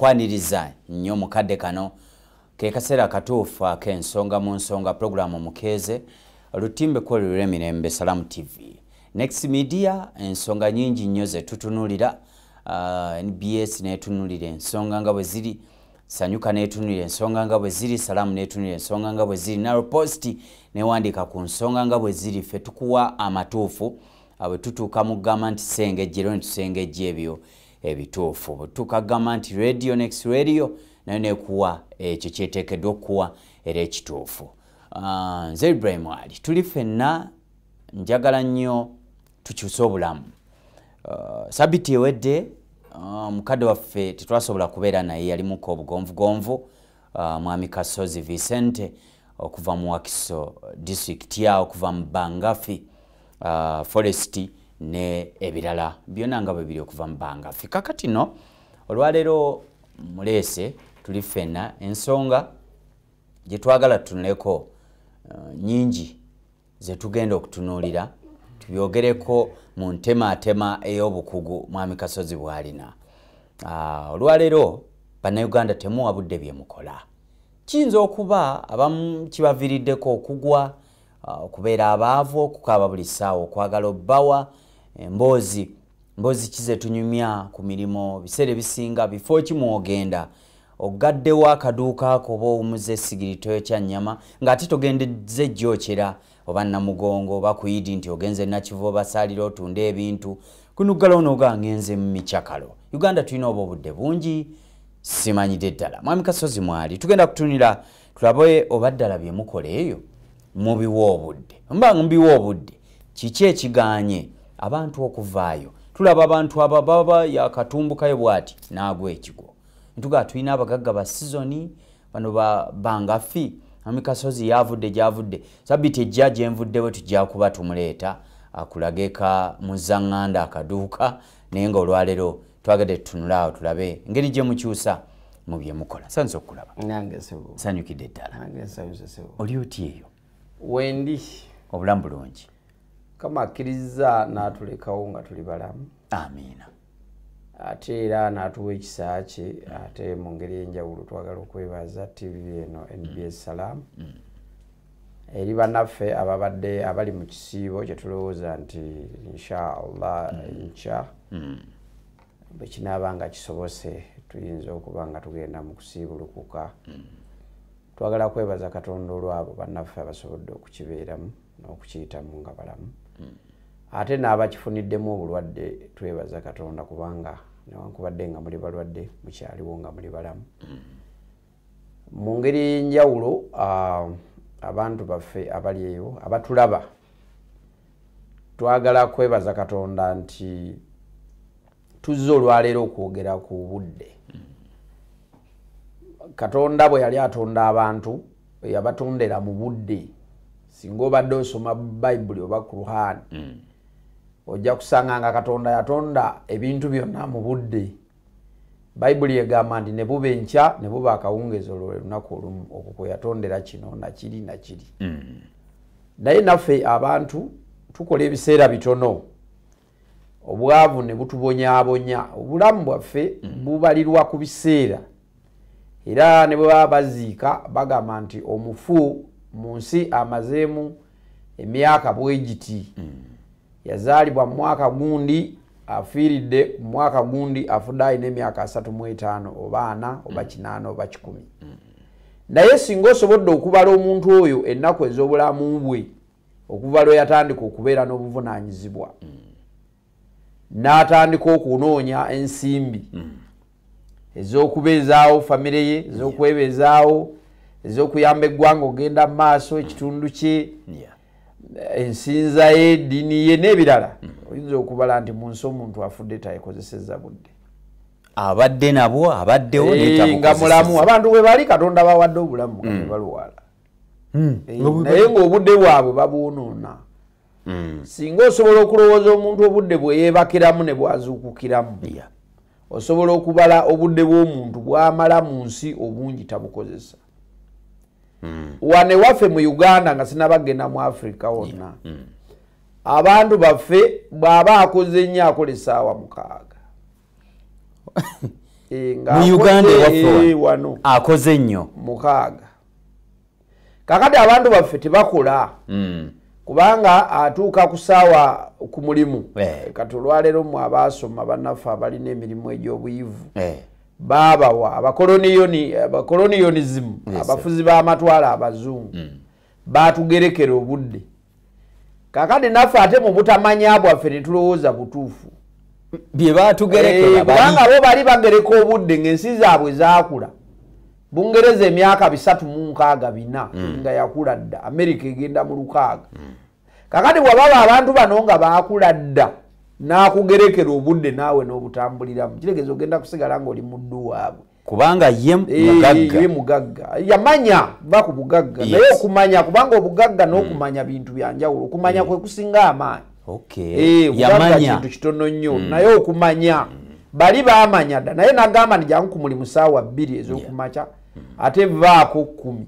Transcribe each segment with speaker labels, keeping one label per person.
Speaker 1: kwaniriza nnyo mu kadde kano ke kaseera akatuufu ak'ensonga mu nsonga pulogulaamu mukeeze lutimbe kwolulira emirembe salaamu tv next media ensonga nyingi nnyo ze tutunuulira uh, nbs neetunuulira ensonga nga bwe ziri sanyuka neetunuulira ensonga nga bwe ziri salaamu neetunuulira ensonga nga bwe ziri naro posti newandiika ku nsonga nga bwe ziri ffe tukuwa amatuufu uh, bwe tutuuka mu gamba nti sengejjero ne tusengejja ebyo ebituufu butuuka kugamba nti radio next radio nayo nekuwa ekyo kyeteekeddwa okukuwa era ekituufu ah, nze ibrahim ali tuli fenna njagala nnyo tukyuse obulamu ah, sabiti ewedde ah, mukadde waffe tetwasobola kubeera naye yalimuko obugonvugonvu uh, mwami kasozi vicente okuva mu wakiso district ya okuva mu bangafi uh, forest ne ebirala byona nga bwebiri okuva mu bangafi kakati no olwaleero muleese tuli fena ensonga gyetwagala tunuleko uh, nyingi zetugenda okutunuulira tubyogereko mu ntemaatema ey'obukugu mwami kasozi bwalina ah, olwaleero bannayuganda temuwa budde bye mukola kiyinza okuba abamu kibaviriddeko okugwa ah, okubeera abaavu okukaaba buli ssaawa okwagala obbawa emboozi mbozi kize tunyumya ku mirimu biseera ebisinga bifo ki mwogenda ogaddewo akaduuka ko oba owumuza esigiri toyokya nnyama ng'ate togendeze jjokyera oba namugongo oba kuyidi nti ogenze nakiva obasaalira otunda ebintu kunuggala onooga ngenze mu micakalo uganda tulina oba obudde bungi simanyidde ddala mwami kasozi mwali tugenda kutunira tulabe oba ddala bye mukola eyo mubiwa obudde mba mubiwa obudde kiki ekiganye abantu okuvaayo tulaba abantu aba baba yakatumbukayo bwati naagwa ekigwo ntuga tulina abagagga ba sizoni bano bangafi amikasozi yavudde gyavudde sabiti ejja gyenvuddewe tujja kuba tumuleeta akulageka muzaŋŋanda akaduuka naye nga olwaleero twagade tutunula awo tulabe ngeri gye mukyusa mu bye mukola sanze okulaba
Speaker 2: sanyukidde ddala oli oti eyo
Speaker 1: wendi
Speaker 2: obulamu
Speaker 1: bulungi kama
Speaker 2: akkirizza n'atulekawo nga tuli balamu amiina
Speaker 1: ate
Speaker 2: era n'atuwa ekisa kye ate mu ngeri enjawulo twagala okwebaza tv eno nbs mm. salaamu mm. eri banaffe ababadde abali mu kisiibo kyetulowooza nti inshaallah mm. nkya mm. bwekinaaba nga kisobose tuyinza okuba nga tugenda mu kusiibulukuka mm. twagala kwebaza katonda olwabo banaffe abasobodde okukibeeramu n'okukiyitamu nga balamu ate n'abakifuniddemu obulwadde twebaza katonda kubanga newankubadde nga muli balwadde mukyaliwo nga muli balamu mu ngeri ey'enjawulo abantu baffe abali eyo abatulaba twagala kwebaza katonda nti tuzze olwaleero okwogera ku budde katonda bwe yali atonda abantu yabatondera mu budde singa obadde osoma bayibuli oba kuruhaani mm. ojja kusanga nga katonda yatonda ebintu byonna mu budde bayibuli egamba nti ne buba enkya ne buba akawungeezi olwo lwe lunaku olumu okwo kwe yatondera kino nakiri nakiri mm. naye naffe abantu tukola ebiseera bitono obwavu ne butubonyabonya obulamu bwaffe mm. bubalirwa ku biseera era ne bwe baba baziika bagamba nti omufu mu nsi amazeemu emyaka bwegiti mm. yazaalibwa mu mwaka gundi afiiridde ku mwaka gundi afudde alina emyaka asatu mu etaano oba ana oba mm. kinaana oba kikumi mm. naye singa osobodde okubala omuntu oyo ennaku ez'obulamu bwe okuva lwe yatandika okubeera n'obuvunaanyizibwa mm. n'atandika okunoonya ensimbi mm. ez'okubeezaawo famire ye ez'okwebeezaawo ez'okuyamba eggwanga okugenda mu maaso ekitundu kye ensinza ye eddiini ye n'ebirala mm. oyinza okubala nti mu nsi omuntu afudde tayekozeseza budde abadde nabwo abaddewo eh, nga mulamu abantu bwe bali katonda bawadde obulamu mm. baluwala eh, naye ngaobudde bwabwe babuwonoona hmm. singa osobola okulowooza omuntu obudde bweyebakiramu ne bwazuukukiramu osobola okubala obudde bw'omuntu bwamala mu nsi obungi tabukozesa hmm. wane waffe mu uganda nga sinabagenda mu africa wonna hmm. abantu baffe bw'aba akoze nnyo akola esaawa mukaaga eh,
Speaker 1: mu uganda waffe eh, wano akoze nnyo mukaaga
Speaker 2: kakati abantu baffe tebakula mm. kubanga atuuka ku saawa ku mulimu eh. kati olwaleero mu abaasoma banaffe abalina emirimu egy'obuyivu eh. baabawa abakoloniyonizimu abafuzi b'amatwala abazungu mm. baatugerekera obudde kakati naffe ate mu butamanya bwaffe netulowooza butuufu
Speaker 1: byebatugerekubanga eh, bo bali
Speaker 2: bagereka obudde ngaensi zaabwe zakula bungereza emyaka bisatu mu nkaaga bina mm. nga yakula dda amerika egenda mu lukaaga mm. kakati wababa abantu bano nga bakula dda nakugerekera obudde naawe n'obutambuliramu kiregeeza ogenda kusigala ngaoli muddu waabwe kubanga ye
Speaker 1: mugagga ye mugagga
Speaker 2: yamanya va ku bugagga yes. naye okumanya kubanga obugagga mm. n'okumanya mm. bintu bya njawulo okumanya mm. kwe kusinga amaanyi okay. e, yamanya kintu kitono nnyo mm. naye okumanya mm. bali bamanya dda naye nagamba ni jangu ku mulimu saawa bbiri ez'okumaca yeah. mm. ate vaako kkumi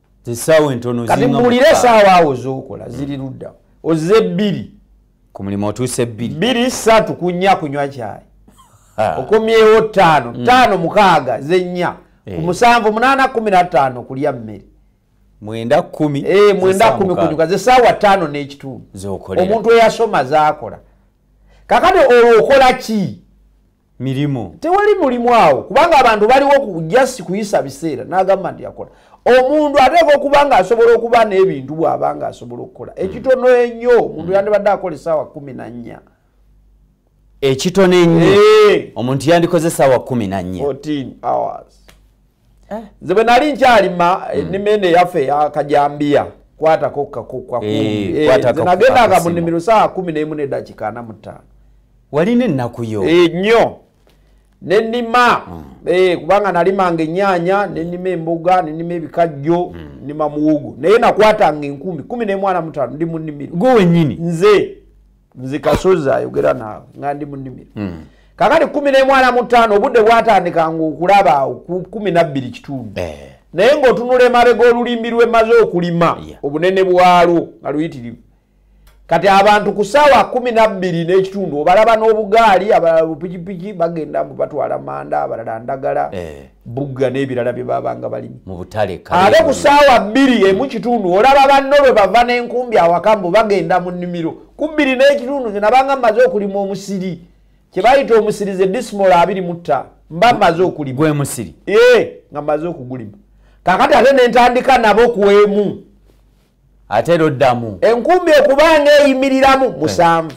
Speaker 2: kati muwulire esaawa awo zokola ziri ludda oze ebbiri ku mulimu
Speaker 1: otuuse ebbiri bbiri satu
Speaker 2: kunya kunywa kyayi okomyewo ttaano mm. ttaano mukaaga zennya ku eh. musanvu munaana kumi na ttaano kulya mmere mwenda kumi eh,
Speaker 1: mwenda kumi kunyuka zesaawa
Speaker 2: ttaano n'ekitundu omuntu eyasoma zaakola kakati olwo okola ki mirimu
Speaker 1: tewali mulimu
Speaker 2: awo kubanga abantu baliwo ku just kuyisa biseera n'agamba nti yakola omuntu ateeka okuba nga asobola okuba n'ebintu bw'aba nga asobola okukola hmm. ekitono ennyo omuntu hmm. yandibadde akola esaawa kumi na nnya
Speaker 1: ekitono ennyo omuntu yandikoze esaawa kumi na nnya
Speaker 2: Eh. nze bwe nali nkyalima eh, hmm. ennima eno eyaffe yakajambiya kwatako kakukakunagendanga eh, mu nimiro saa kumi nemu nedakika ana mutaano walina
Speaker 1: ennakuyo nnyo
Speaker 2: nenima hmm. kubanga nalimanga enyanya nenima emboga nenima ebikajjo hmm. nima muwogo naye nakwatanga enkumi kumi nemwana mutaano ndi mu nimiro gwe wenyini nze nze kasozi ayogera naawe nga ndi mu nnimiro hmm. kakati kumi nemwana mutaano obudde bwatandika nga okulaba awo kumi nabbiri kitundu eh. naye ngaotunula emabega olulimbi lwemaze okulima obunene bwalwo nga luyitirivu kati abantu ku saawa kumi nabbiri n'ekitundu obalaba n'obugaali abalala bupikipiki bagenda mbu batwala manda abalala ndagala eh. bugga n'ebirala bye babanga balimi ate
Speaker 1: ku saawa
Speaker 2: bbiri emu kitundu olaba banno lwe bava n'enkumbi awaka mbu bagenda mu nnimiro ku bbiri n'ekitundu nze nabanga mmaze okulima omusiri kye bayita omusiri ze dismol abiri mutta mba mmaze okulima gwe musiri ee
Speaker 1: nga mmaze
Speaker 2: okugulima kakati ate ne ntandika nabo ku emu
Speaker 1: ate era oddamu enkumbi okubanga
Speaker 2: eyimiriramu eh. musanvu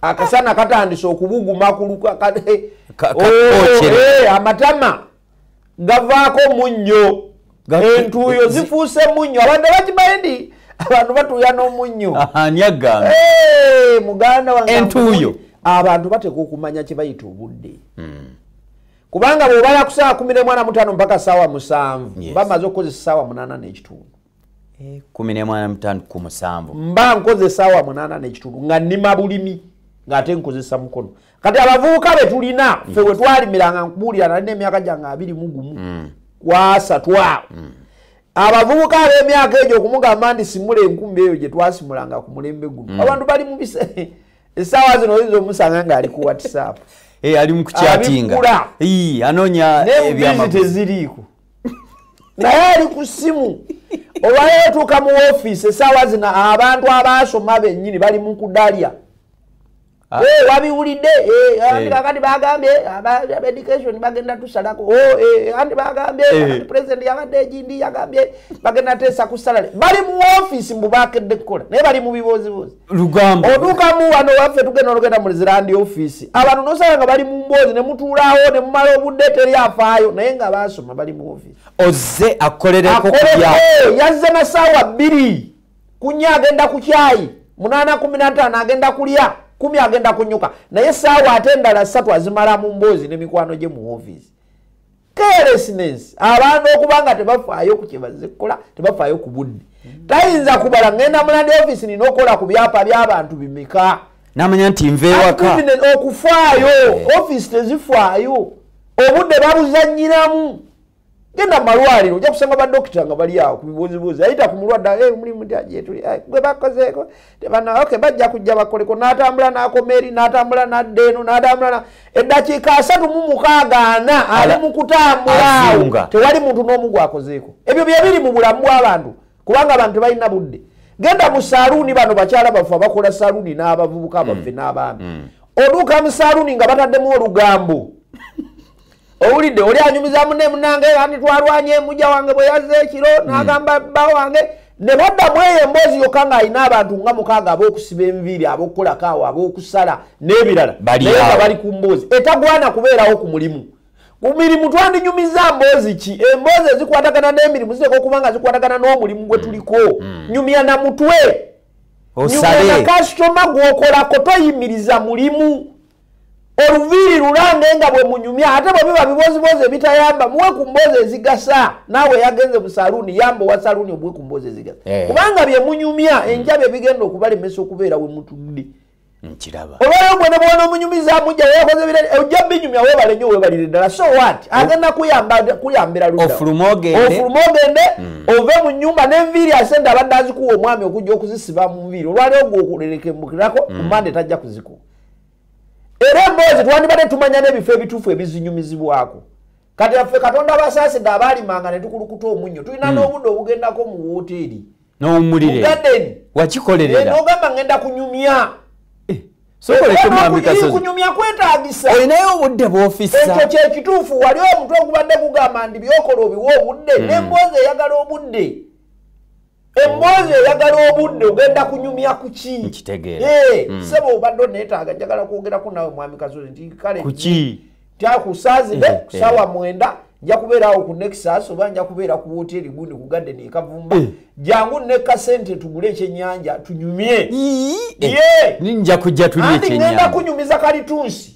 Speaker 2: akasana katandise okubuguma kulukamatama gavaako munnyo entuuyo zifuuse munnyo abantu abakimanyi ndi abantu batuuya n'omunnyo muganda wanentuuyo
Speaker 1: abantu bateeka
Speaker 2: okumanya kye bayita obudde hmm. kubanga bwobala kusaawa kumi nemwana mutaano mpaka saawa musanvu bamaze okukozesa saawa munaana n'ekitundu kumi nemwana
Speaker 1: mutandu ku musanvu mba nkozesa
Speaker 2: wa munaana nekitundu nga nima bulimi ngaate nkozesa mukono kati abavubuka betulina fe wetwalimiranga nkubuulira nali nemyaka gyange abiri mugumu mm. kwasatwa mm. abavubuka abemyaka egyo okumugamba nti simula enkumbi eyo gyetwasimulanga ku mulembe guno mm. abantu bali mubise esaawa zino oyinza omusanga ngaali ku whatsapp eh, ali
Speaker 1: mukukyatinga anonya ebyamaziteziriiko
Speaker 2: naye ali ku ssimu olwaleero tuuka mu ofiisi esaawa zino abantu abaasoma bennyini bali mu kudalya ah. eh, wabiwulidde eh, eh. kakati bagambye education bagenda tusalako oh, anti bagambye president yabadde egindi yagambye bagenda teesa ku salale bali mu ofiisi mbu bakedde kukola naye bali mu bibooziboozi lugambo olugamu
Speaker 1: wano waffe
Speaker 2: tugenda olugenda mu zirandi ofiisi abantu nosanga nga bali mu mboozi ne mutuulaawo ne mumala obudde teri afaayo naye nga baasoma bali mu ofiisi ozze
Speaker 1: akolereko yazze
Speaker 2: na saawa bbiri kunya agenda ku kyayi munaana kumi nataano agenda kulya kumi agenda kunyuka naye saawa ate endala ssatu azimala mu mboozi ne mikwano gye mu ofiisi carelessness abantu okuba nga tebafaayo ku kyebazze kukola tebafaayo ku budde tayinza kubala ngenda mulandi office nina okukola ku byapa by'abantu bimeka namanya nti
Speaker 1: nvewaka okufaayo
Speaker 2: eh. office tezifaayo obudde babuzanyiramu genda mumalwaliro ojja kusanga badokita nga bali awo ku bibuuzibuuzi ayita ku mulwadde eh, omulimu gwe bakozeeko okay bajja kujja bakoleko n'atambula n'akoma eri n'atambula n'adda eno n'atambula eddakiika asatu mu mukaaga ana ali mu kutambulaawo tewali muntu n'omu gwakozeeko ebyo bye biri mu bulamu bw'abantu kubanga abantu tebalina budde genda mu saluuni bano bakyala baffe abakola saluuni n'abavubuka mm. baffe n'abaami mm. oduuka mu saluuni nga bataddemu olugambo owulidde oli anyumiza mune munange ani twalwanye muja wange bwe yazze ekiro hmm. nagamba bba wange ne baddamu eyo emboozi yokka ng'alina abantu nga mukaaga ab'okusiba enviiri ab'okukolako awo ab'okusala n'ebirala naye nga bali ku mboozi etagwana kubeerawo ku mulimu ku mirimu twandinyumiza mboozi ki emboozi ezikwatagana n'emirimu ziteeka okuba nga zikwatagana n'omulimu gwe tuliko hmm. nyumya na mutwe nyumya na kasitoma gw'okolako toyimiriza mulimu oluviiri lulange nga bwe munyumya ate bwe biba biboziboozi ebitayamba muwe ku mboozi ezigasa naawe yagenze mu saluuni yamba owa saluuni obuwe ku mboozi ezigasa eh. kubanga bye munyumya hmm. enja bye bigenda okubalemesa okubeera we mutudde nkiraba
Speaker 1: olwayo gwe ne bwona
Speaker 2: omunyumiza mujja weyakoze bire eh, ojja binyumya webale nyo webalire ddala so wat oh. agenda kuyamba kuyambira luda ofuluma ogende ofuluma
Speaker 1: ogende hmm. ove
Speaker 2: mu nyumba n'enviiri asente abadde azikuwa omwami okujja okuzisiba mu nviiri olwalyo ogwo okulelekembukirako ku hmm. mande tajja kuzikuwa era emboozi twandibadde tumanya n'ebifo ebituufu ebizinyumizibwako kati affe katonda basaasidde abaalimanga ne tukulukuta omunnyo tulina hmm. n'obudde obugendako mu wooteeri n'owumulire wakikolerera eh, n'ogamba
Speaker 1: ngenda
Speaker 2: kunyumya kunyumya kwetagisa olinayo obudde
Speaker 1: bwofisa ekyo kyekituufu
Speaker 2: wali omutwe ogubadde gugamba ndi byokola obiwa obudde hmm. nemboozi eyagala obudde emboozi eyagala obudde ogenda kunyumya kuki nkitegeera eh,
Speaker 1: mm. sebo obadde
Speaker 2: oneetaaga njagala kwogerako nawe mwami kazozi nti kale kuki
Speaker 1: tyakusazide
Speaker 2: eh, kusawa eh. mwenda nja kubeera awo ku nexus oba nja kubeera ku woteri gundi ku garden ekavumba eh. jangu neka sente tugule ekyenyanja tunyumye eh.
Speaker 1: nja kujja tulye ekyenyanja kunyumiza
Speaker 2: kalitunsi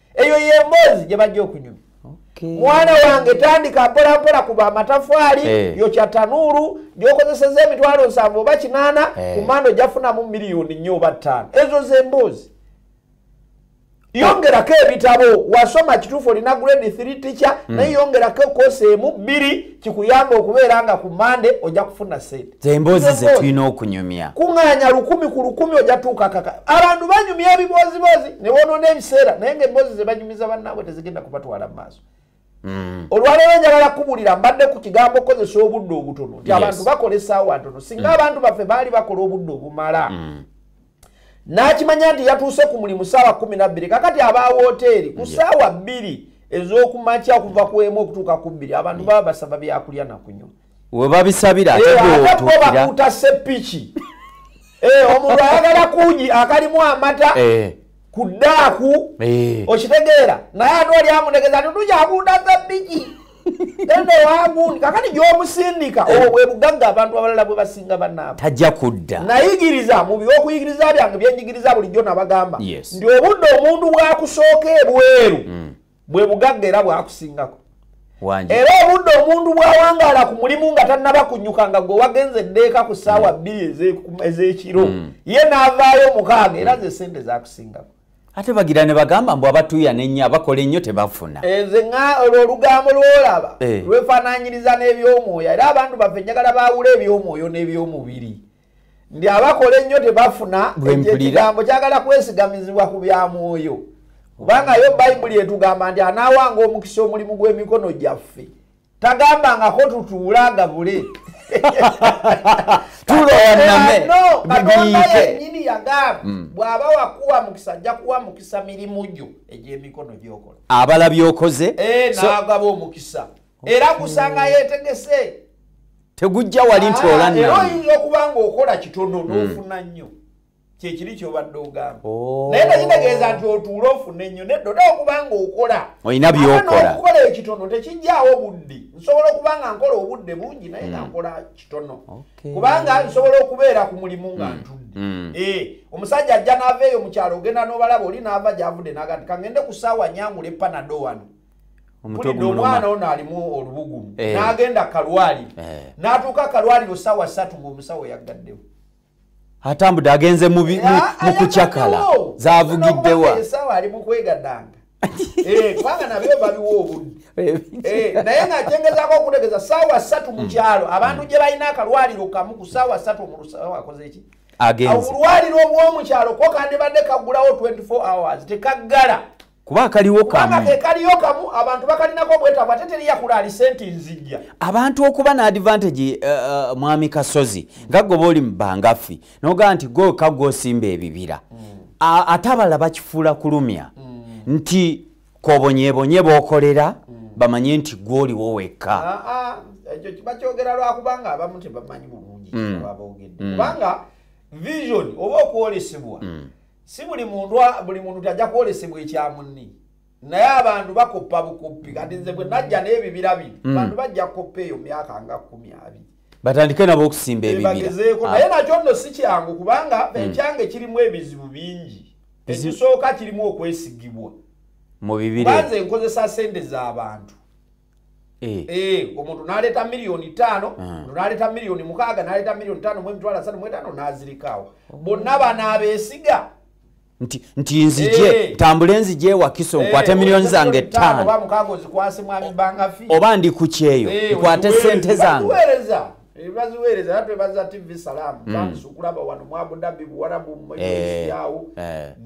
Speaker 2: eyo yemboozi gye bajja okunyuma mwana wange tandika mpolampola kuba amatafaali eh. yokya tanuulu gyokozeseza emitwalo nsanvu oba kinaana eh. ku manda ojafunamu miliyoni nnyo oba ttaano ezo zemboozi yongerako ebitabo wasoma kituufu olina grade 3 ticha hmm. naye yongerako kosi emu bbiri kikuyamba okubeera nga ku mande ojja kufuna sente zemboozi zetulina
Speaker 1: okunyumya kuŋanya lukumi ku
Speaker 2: lukumi ojja tuuka kaka abantu banyumya ebibooziboozi ne bonoona ebiseera naye nga emboozi ze banyumiza bannaabwe tezigenda kubatwala mu maaso mm. olwaleero njagala kubulira mbadde ku kigambo kozesa obudde obutono nti abantu bakola esaawa ntono singa mm. abantu baffe baali bakola obudde obumala mm. n'akimanya nti yatuuse ku mulimu saawa kumi nabbiri kakati aba wooteeri ku saawa bbiri ez'okumakya okuva ku emu okutuuka ku bbiri abantu baba basaba byakulya nakunyuma webabisabira
Speaker 1: ate bakuta
Speaker 2: sepiki eh, omuntu ayagala kuji akalimu amata eh. ku daaku eh. okitegeera naye ate oli amutegeza tutujakuta sepiki enewangundi kakati gyomusindika obwo bwebugagga abantu abalala bwe basinga banaabo tajja kudda
Speaker 1: nayigiriza mu
Speaker 2: byokuyigiriza byange byenjigiriza bulijjo nabagamba nti obudde omuntu bwakusooka ebweru mm. bwe bugagga era bwakusingako era obudde omuntu bwawangaala ku mulimu nga tannaba kunyuka nga gwe wagenze eddeeka ku ssaawa mm. bbiri ez'ekiro mm. ye n'avaayo mukaaga era ze sente zakusingako ate bagira ne
Speaker 1: bagamba mbu abatuuya nennyo abakola ennyo tebafuna enze eh, nga olwo
Speaker 2: olugambo lwolaba eh. lwefaananyiriza n'ebyomwoyo era abantu baffe njagala baawula ebyomwoyo n'ebyomubiri ndi abakola ennyo tebafuna ekyo ekigambo kyagala kwesigamizibwa ku bya mwoyo kubanga yo bayibuli etugamba nti anaawanga omukisa omulimu gw'emikono gyaffe tagambangako tutuule agabule tulowanamenyini yagamba mm. bw'aba wakuwa mukisa ajja kuwa mukisa mirimu gyo egy'emikono gyokola abala byokoze eh,
Speaker 1: n'agaba
Speaker 2: omukisa era gusanga yetegese tegujja
Speaker 1: wali nti ah, olanera oyinza okuba nga
Speaker 2: okola kitono hmm. n'ofuna nnyo kyekiri kyobadde ogamba oh. naye tekitegeeza nti otuula ofune nnyo nedda oda okuba nga okola olina byokolaokukola
Speaker 1: ekitono
Speaker 2: tekijjaawo obudde nsobola okuba nga nkola obudde bungi naye nga hmm. nkola kitono kubanga nsobola okubeera ku mulimu nga hmm. ntudde eh, omusajja ajja n'ava eyo mu kyalo ogenda n'obalaba oli n'ava gyavudde nagati kangende ku saawa nyangula epanado wano omwana ono alimu olubugumu eh. nagenda kalwaliro eh. natuuka kalwaliro sawa satu ngaomusawo yaggaddewo
Speaker 1: atambudde agenze mu ah, kucakala zavugiddewa esawa ali
Speaker 2: mukwegadanga eh, kubanga nabyo babiwa obudde naye nga kyengezako okutegeza sawa satu mukyalo hmm. abantu gye balina akalwaliro kamu ku sawa satu omulusawo akoze eki obulwaliro obwomukyalo ko kandibadde kagulawo 24 hours tekaggala kuba akaliwo
Speaker 1: kamu ke kaliyo
Speaker 2: kamu abantu bakalinako obwetaavu ate teri yakula ali senti nzijja abantu okuba na
Speaker 1: advantage uh, uh, mwami kasozi nga goba oli mu bangafi nogaa nti goka gwosimba ebibira mm. ate abalala bakifuula kulumya mm. nti kobonyebonye bokolera mm. bamanye nti gwoliwo wekka ah, ah, ekyo kiba
Speaker 2: kyogera lwakubanga abamu tebamanyi bulungi mm. abogedde mm. kubanga vision oba okwolesebwa mm. si buli muntu buli muntu tajja kwolesebwa ekya munni naye abantu bakoppa bukoppi kati nze bwe najja n'ebibira bino hmm. bantu bajja kukoppa eyo myaka nga kumi abiri batandike nabo
Speaker 1: okusimba ebibirabagezeeko ah. naye nakyo nno
Speaker 2: si kyangu kubanga hmm. ekyange kirimu ebizibu bingi ekisooka kirimu okwesigibwa mu
Speaker 1: bibira nze nkozesa sente
Speaker 2: z'abantu Eh. Eh, omuntu naleeta miliyoni taano ah. omuntu naleeta miliyoni mukaaga naleeta miliyoni taano mu emitwalo asatu mu etaano n'azirikaawo oh. bonna banaabeesiga nti
Speaker 1: nti nzije eh. ntambule nzije ewakiso nkwate miliyoni zange ttaano
Speaker 2: oba ndi ku kyeyo
Speaker 1: nkwate ssente zange baziweereza
Speaker 2: era twebaza tv salaamu hmm. bansukulaba wano mu abudabi buwarabu muyawo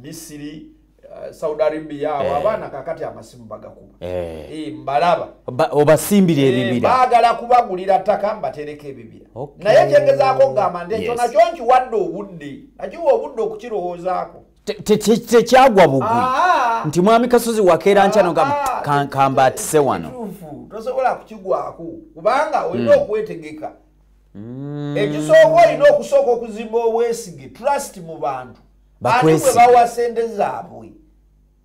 Speaker 2: misiri Eh, saudi arabia awo eh. abaana kakati amasimu bagakuba eh. mbalaba obasimbira
Speaker 1: ebibira bagala kubagulira
Speaker 2: ttaka mbatereka ebibira naye kyegezaako kugamba nti ekyo nakyo nkiwadde obudde nakiwa obudde okukirowoozaako
Speaker 1: tekyagwa bugwi ah. nti mwami kasozi wakeera nkyanogamba ah, ah. kamba atise wano tosobola
Speaker 2: kukigwako kubanga olina hmm. okwetegeka hmm. ekisooka olina okusooka okuzimba obwesige trust mu bantu bakwesi bawa sente zabwe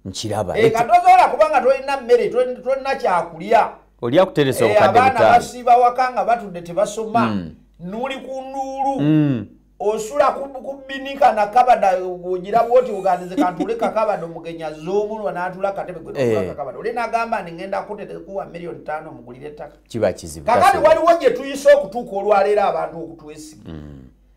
Speaker 2: nkiraba
Speaker 1: e katozola kubanga
Speaker 2: tolina mmere tolina kyakulya oli akuteresa eh,
Speaker 1: obukadde butaano abaana basiiba waka
Speaker 2: nga
Speaker 1: batudde
Speaker 2: tebasoma hmm. nuli ku nduulu hmm. osula kubinika na kabada ogira bwoti ogandize kantule kakabada omugenyi azze omulwa n'atula katebe gwekakabada eh. oli nagamba nti ngenda kutetekuwa miliyoni tano mugulire ettaka kiba kizibu kakati
Speaker 1: waliwo gye
Speaker 2: tuyise okutuuka olwaleero abantu okutwesiga hmm.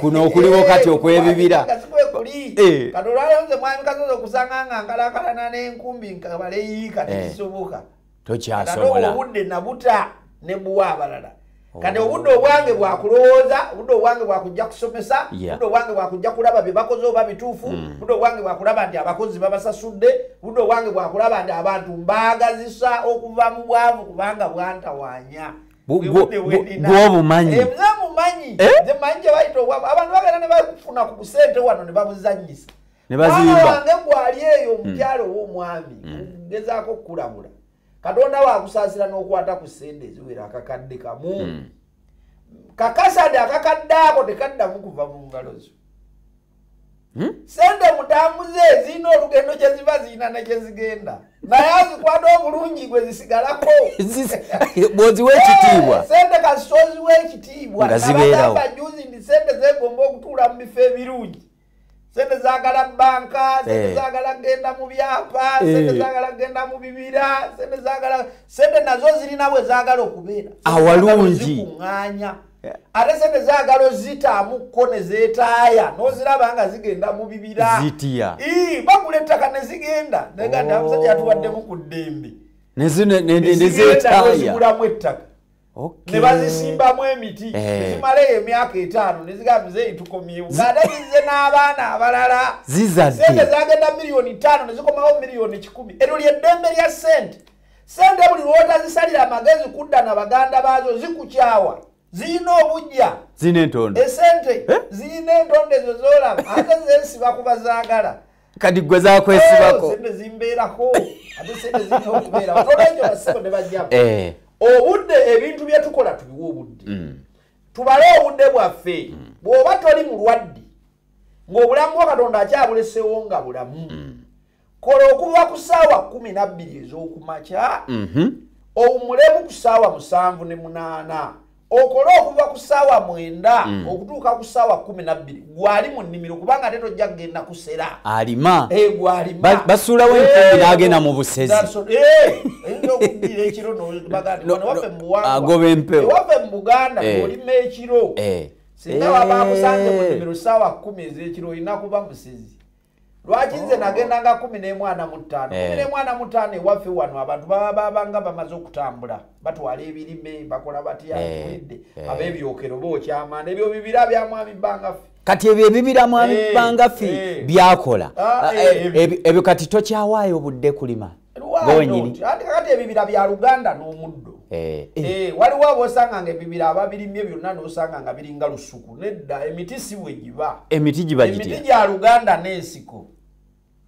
Speaker 2: kuno
Speaker 1: okuliwo eh, kati okwebibira eh.
Speaker 2: kati olwalonze mwami kasozi okusanga nga nkalakalana n'enkumbi nkabaleyiika tekisoboka eh. tokyasobola
Speaker 1: obudde nabuta
Speaker 2: ne buwa abalala oh. kati obudde obwange bwakulowooza obudde obwange bwakujja kusomesa budde obwange bwakujja kulaba bye bakoze oba bituufu hmm. budde obwange bwakulaba nti abakozi babasasudde budde obwange bwakulaba nti abantu mbaagazisa okuva mu bwavu kubanga bwantawanya gwobumanyi
Speaker 1: eh, mumanyi
Speaker 2: eh? zemanyi gyebayita obwavu abantu bagenda nebafuna ku kusente wano nebabuzanyisa nebaziwange
Speaker 1: gwali eyo
Speaker 2: hmm. omukyalo owomwami hmm. ngezaako okukulabula katonda wakusaasira n'okwata ku sente eziwera akakadde kamu hmm. kakasade akakadde ako tekaddamu kuva mu ngalo zo Hmm? sente mutambuze zirina olugendo kyeziva zirina nekyezigenda naye azikwata obulungi gwe zisigalako
Speaker 1: bwoziwa ekitiibwa eh, sente kasitoziwa
Speaker 2: ekitiibwa nga zibeerawo
Speaker 1: juzi ndi sente
Speaker 2: zegomba okutuula mu bifo ebirungi sente zagala banka sente eh. zagala kugenda mu byapa eh. sente zagala kugenda mu bibira sente zagala sente nazo zirina we zagala okubeera awalungi
Speaker 1: kuŋŋanya
Speaker 2: ate sente zagala ozitaamuko nezetaaya noziraba nga zigenda mu bibira
Speaker 1: bagula ettaka
Speaker 2: nezigenda neganda oh. musajja yatuwaddemu ku ddembe nezigulamu ettaka
Speaker 1: nebazisimbamu
Speaker 2: emiti eh. nezimala eyo emyaka etaano nezigamba zeyi tukomyewo ngaate zize n'abaana abalala sente
Speaker 1: zagenda miliyoni
Speaker 2: taano nezikomawo miliyoni kikumi eryo lyeddembe lya sente sente buli lwotazisalira amagezi kudda na baganda baazo zikukyawa zirina obujja zirina entondo
Speaker 1: esente eh?
Speaker 2: zirina entondo ezo zolaba ate zesiba kuba zaagala kati gwe
Speaker 1: zakwesibako oh, sente zimbeerako
Speaker 2: ate sente zirina okubeera olwekyo basibo ne bajjamu eh. obudde ebintu bye tukola tubiwa obudde mm. tubale obudde bwaffe mm. bw'oba toli mulwadde ng'obulamu bwa katonda akyabulesewo nga bulamu mm. kola okuva ku ssaawa kumi nabbiri ez'okumakya mhm. owumulemu ku ssaawa musanvu ne munaana okole okuva ku ssaawa mwenda mm. okutuuka ku ssaawa kumi nabbiri gwali mu nnimiro kubanga ate tojja kugenda kusera alima eh,
Speaker 1: gwalima
Speaker 2: basuulawo enkumbi eh,
Speaker 1: n'agenda mu busezi
Speaker 2: agoba empewoewaffe
Speaker 1: mu buganda
Speaker 2: eh. olima ekiro singa wabakusange mu nnimiro ssaawa kumi ez'ekiro olina kuba musezi lwaki nze oh. nagendanga kumi nemwana mutaano kumi eh. nemwana mutaano ewaffe wano abantu baba babanga bamaze okutambula batwala ebirime bakola batyaidde eh, eh. abebyokero bokyamana ebyo bibira byamwami bangaffe kati ebyo ebibira
Speaker 1: mwami bangaffe byakola ah, ebyo kati tokyawaayo obudde kulima kakati ebibira
Speaker 2: bya luganda n'omuddo eh, eh. Eh, waliwo abosanga nga ebibira ababirimye byonna nosanga nga biringa lusuku nedda emiti si bwe giba emiti giba emiti
Speaker 1: gya luganda
Speaker 2: n'ensiko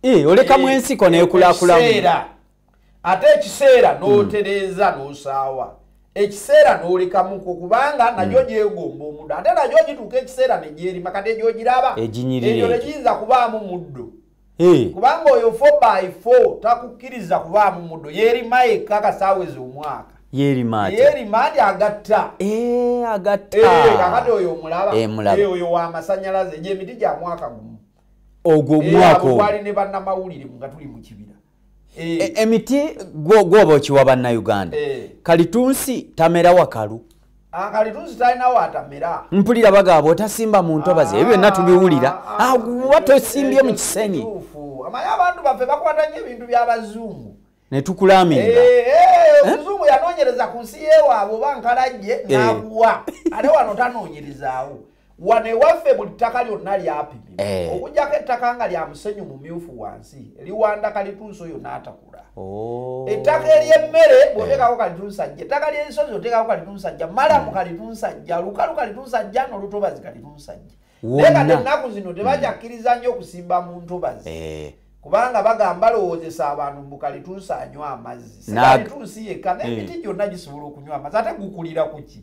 Speaker 1: olekamu ensiko nekulakulauseera
Speaker 2: ate ekiseera hmm. n'otereeza n'osaawa ekiseera n'olekamuko kubanga hmm. nagyo gyegomba omuddo ate nagyo gituuka ekiseera negyerima kati egyogiraba eginyirira egyo tegiyinza kubaamu muddo Eh. kubanga oyo 4x4 takukkiriza kubaamu muddo yerima yekka kasaawezi omwaka yerimandi agatta eh, agatta eh, kakati oyo omulaba oyo wamasanyalaze gyemiti gya mwaka gumu ogwo
Speaker 1: omwaka ne bannamawulire
Speaker 2: nga tuli mu kibira Eh. E, emiti
Speaker 1: gwoba okiwa bannauganda eh. kalitunsi tamera wakalu ah, kalitunsi
Speaker 2: talina watamera mpulira bagaba
Speaker 1: otasimba mu ntobazi ebyo byonna ah, tubiwulira ah, aguba tosimbye mu kisenyi amanyi abantu
Speaker 2: baffe bakwata nyo ebintu by'abazungu netukulamirira
Speaker 1: eh, eh, eh? omuzungu
Speaker 2: yanonyereza ku nsi yewaabwe oba nkalajje nakuwa ate wano tanonyerezawo wano ewaffe buli ttaka lyonna lyapimibwa eh. okujjako ettaka nga lya musenyu mumyufu wansi liwanda kalitunsi oyo n'atakula oh. ettaka ery'emmere eh. bwoteekako kalitunsajja ettaka ly'ensozi oteekako kalitunsajja malamu hmm. kalitunsajja lukalu kalitunsajja n'olutobazi kalitunsajja naye kati ennaku zino tebakyakkiriza nnyo okusimba mu ntobazi eh. kubanga bagamba lowoozesa abantu mbu kalitunsanywa amazzi sikalitunsi yekka n'emiti gyonna gisobola okunywa amazzi ate gukulira ku ki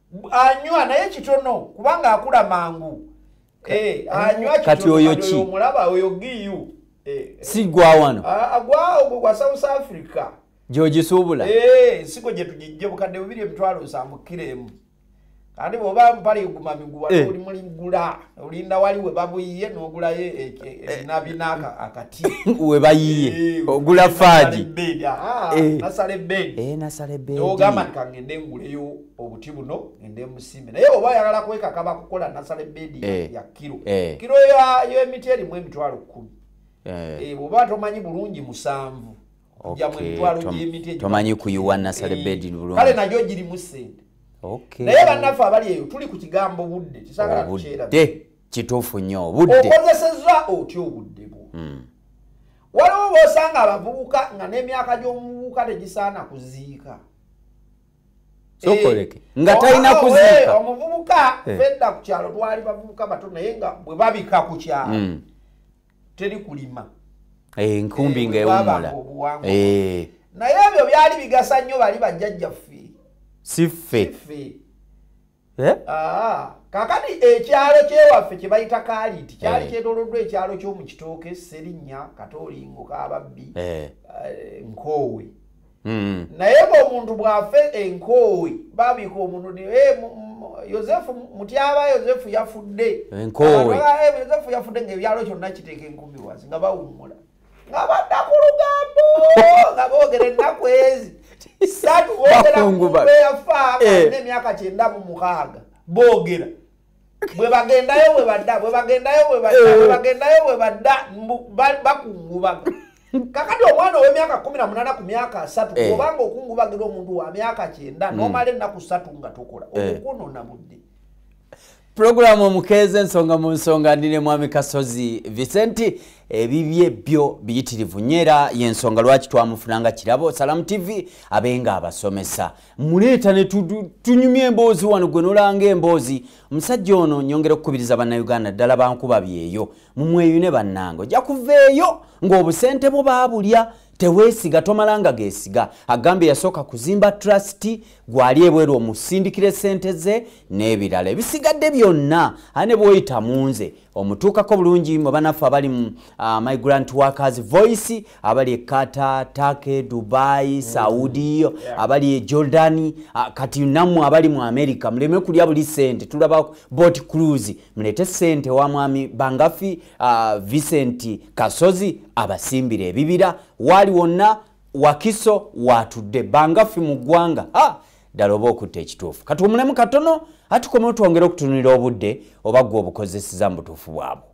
Speaker 2: anywa naye kitono kubanga akula mangu eh, anywa kati oyo ki
Speaker 1: omulaba oyo giyu
Speaker 2: eh, eh. si gwa
Speaker 1: wano ah, agwa ogwo gwa
Speaker 2: south africa gyogisuubula
Speaker 1: sigo gye
Speaker 2: tugijje bukadde bubiri emitwalo nsanvu kiro emu kandi bwoba mpale guma miguwa oli muligula olinda wali we babuyiye n'ogulayo ebinabina akati we bayiye
Speaker 1: ogula faagi
Speaker 2: nasala ebbeedi ogamba nti
Speaker 1: kangende nguleyo
Speaker 2: obuti buno ngende musimbe naye oba ayagala kwekaka bakukola nasala ebedi eh. ya kiro eh. kiro yemiti erimu emitwalo kumi eh. bwoba tomanyi bulungi musanvu
Speaker 1: tomanyi kuyiwa nasala ebedi kale najo girimu
Speaker 2: sente naye bannaffe abali eyo tuli ku kigambo budde kisagala tukyerabudde kituufu nnyo
Speaker 1: obudde okozeseza otya
Speaker 2: obudde bwo hmm. waliwo bosanga abavubuka nga n'emyaka gy'omuvubuka tegisaana kuziika
Speaker 1: sokoleke eh, nga talina kuziika omuvubuka eh.
Speaker 2: fedda ku kyalo twali bavubuka bato naye nga bwe babika ku kyalo hmm. teri kulima eh, nkumbi
Speaker 1: nga ewumula
Speaker 2: naye ebyo byali bigasa nnyo bali bajjajjaffe siffe
Speaker 1: Eh?
Speaker 2: Ah, kakati ekyalo kyewaffe kyebayita kaliti kyali eh. kyetoloddwa ekyalo kyomu kitooke serinnya katolingo kababbi eh. nkoowe hmm. naye ngaomuntu bwafe enkoowe babika omuntu ni yosefu mutyaba yosefu yafudde
Speaker 1: yosefu yafudde
Speaker 2: ngaebyalo kyonna kiteeka enkumiwazi nga bawummula nga badda ku lugambo nga boogera ennaku ezi satu boogeraeyafa eh. nemyaka kyenda mu mukaaga boogera bwebagendayo bwebadda bwebagendayo bwebadda eh. bwebagendayo bwebadda bakungubaga kakati omwana owemyaka kumi na munana ku myaka asatu eh. obanga okungubagira omuntu wa myaka kyenda hmm. nomala ennaku satu nga tokola okukwonona budde
Speaker 1: pulogulaamu omukeeza ensonga mu nsonga ndi ne mwami kasozi vicenti ebibye byo biyitirivu nyo era yensonga lwaki twamufuna nga kirabo salamu tv abe nga abasomesa muleeta ne tunyumya emboozi wano gwe nolanga emboozi omusajja ono nyongera okukubiriza bannayuganda ddala bankuba byeyo mumweyune bannange ojja kuveeyo ng'obusente bwo baabulya tewesiga tomalanga gesiga agambye yasooka kuzimba trust gwali ebweru omusindikira esente ze n'ebirala ebisigadde byonna aye ne bwoyita munze omutuukako bulungi mwe banaffe abali mu uh, my grand workers voice abali ekata take dubai mm. saudi yeah. abali e jordan uh, kati nammwe abali mu america muleme kulya buli sente tulaba bot cruise mulete sente wa mwami bangafi uh, vincent kasozi abasimbira ebibira waali wonna wakiso watudde bangafi mu ggwanga ah! ddala oba okutta ekituufu kati omulemu katono atukoma otwongere okutunulira obudde oba gwe obukozeseza mu butuufu bwabwe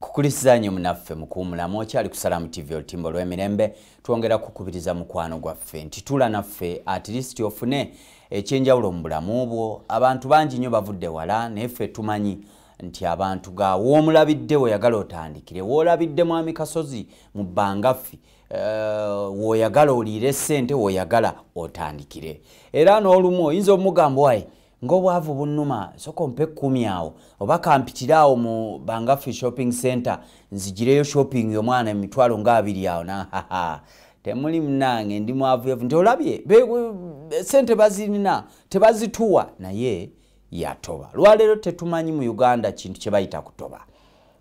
Speaker 1: kukulisiza nyo munaffe mukuwumulamu okyali ku salamu tv olutimba olw'emirembe twongera kukubiriza mukwano gwaffe nti tula naffe atilisiti ofune ekyenjawulo mu bulamu bwo abantu bangi nnyo bavudde wala naye ffe tumanyi nti abantu ga woomulabidde weyagala otandikire woolabidde mwami kasozi mu bbangaffi eh, woyagala oliire sente woyagala otandikire era n'olumu oyinza omugamba waye ng'obwavu bunnuma soka ompe kkumi awo oba kampitire awo mu bangaffe shopping center nzigireyo shopping yomwana emitwalo nga abiri awo nahaha temuli munange ndi mwavuyavu nti olabye sente bazirina tebazituwa naye yatoba lwaleero tetumanyi mu uganda kintu kye bayita kutoba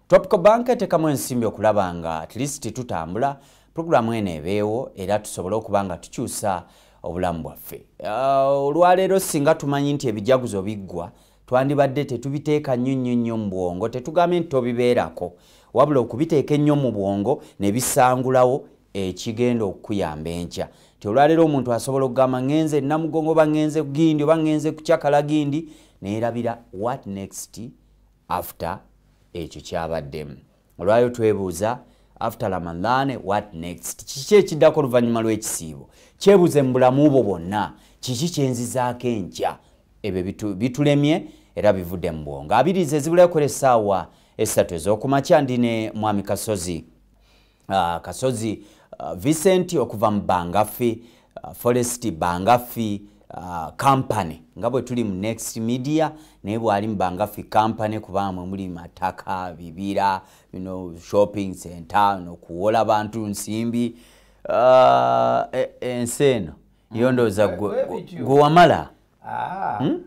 Speaker 1: Topco Bank etekamu ensimbi okulaba nga at least tutambula pulogulaamu eno ebeewo era tusobole okuba nga tukyusa obulamu bwaffe. Uh, olwaleero singa tumanyi nti ebijaguzo biggwa twandibadde tetubiteeka nnyo nnyo nnyo mu bwongo tetugambye nti tobibeerako wabula okubiteeka ennyo mu bwongo ne bisangulawo ekigenda okukuyamba enkya nti olwaleero omuntu asobola okugamba ŋenze namugongo oba ŋenze gindi oba ŋenze kucakala gindi neerabira what next after ekyo kyabaddemu olwayo twebuuza after ramadhan what next kiki ekiddako oluvannyuma lw'ekisiibo kyebuuze mu bulamu bwo bwonna kiki kyenzizaako enkya ebyo bitulemye era bivudde mu bwongo abiriiza ezibulayo kola essaawa essatu ez'okumakya ndi ne mwami kasozi uh, kasozi uh, vincent okuva mu bangafi uh, forest bangafi uh, company nga bwe tuli mu next media naye bwali mu bangafi company kubamwe muli mataka bibira you know, shopping center no kuwola bantu nsimbi uh, e, ensi eno mm. yondooza gwewamala ah. hmm?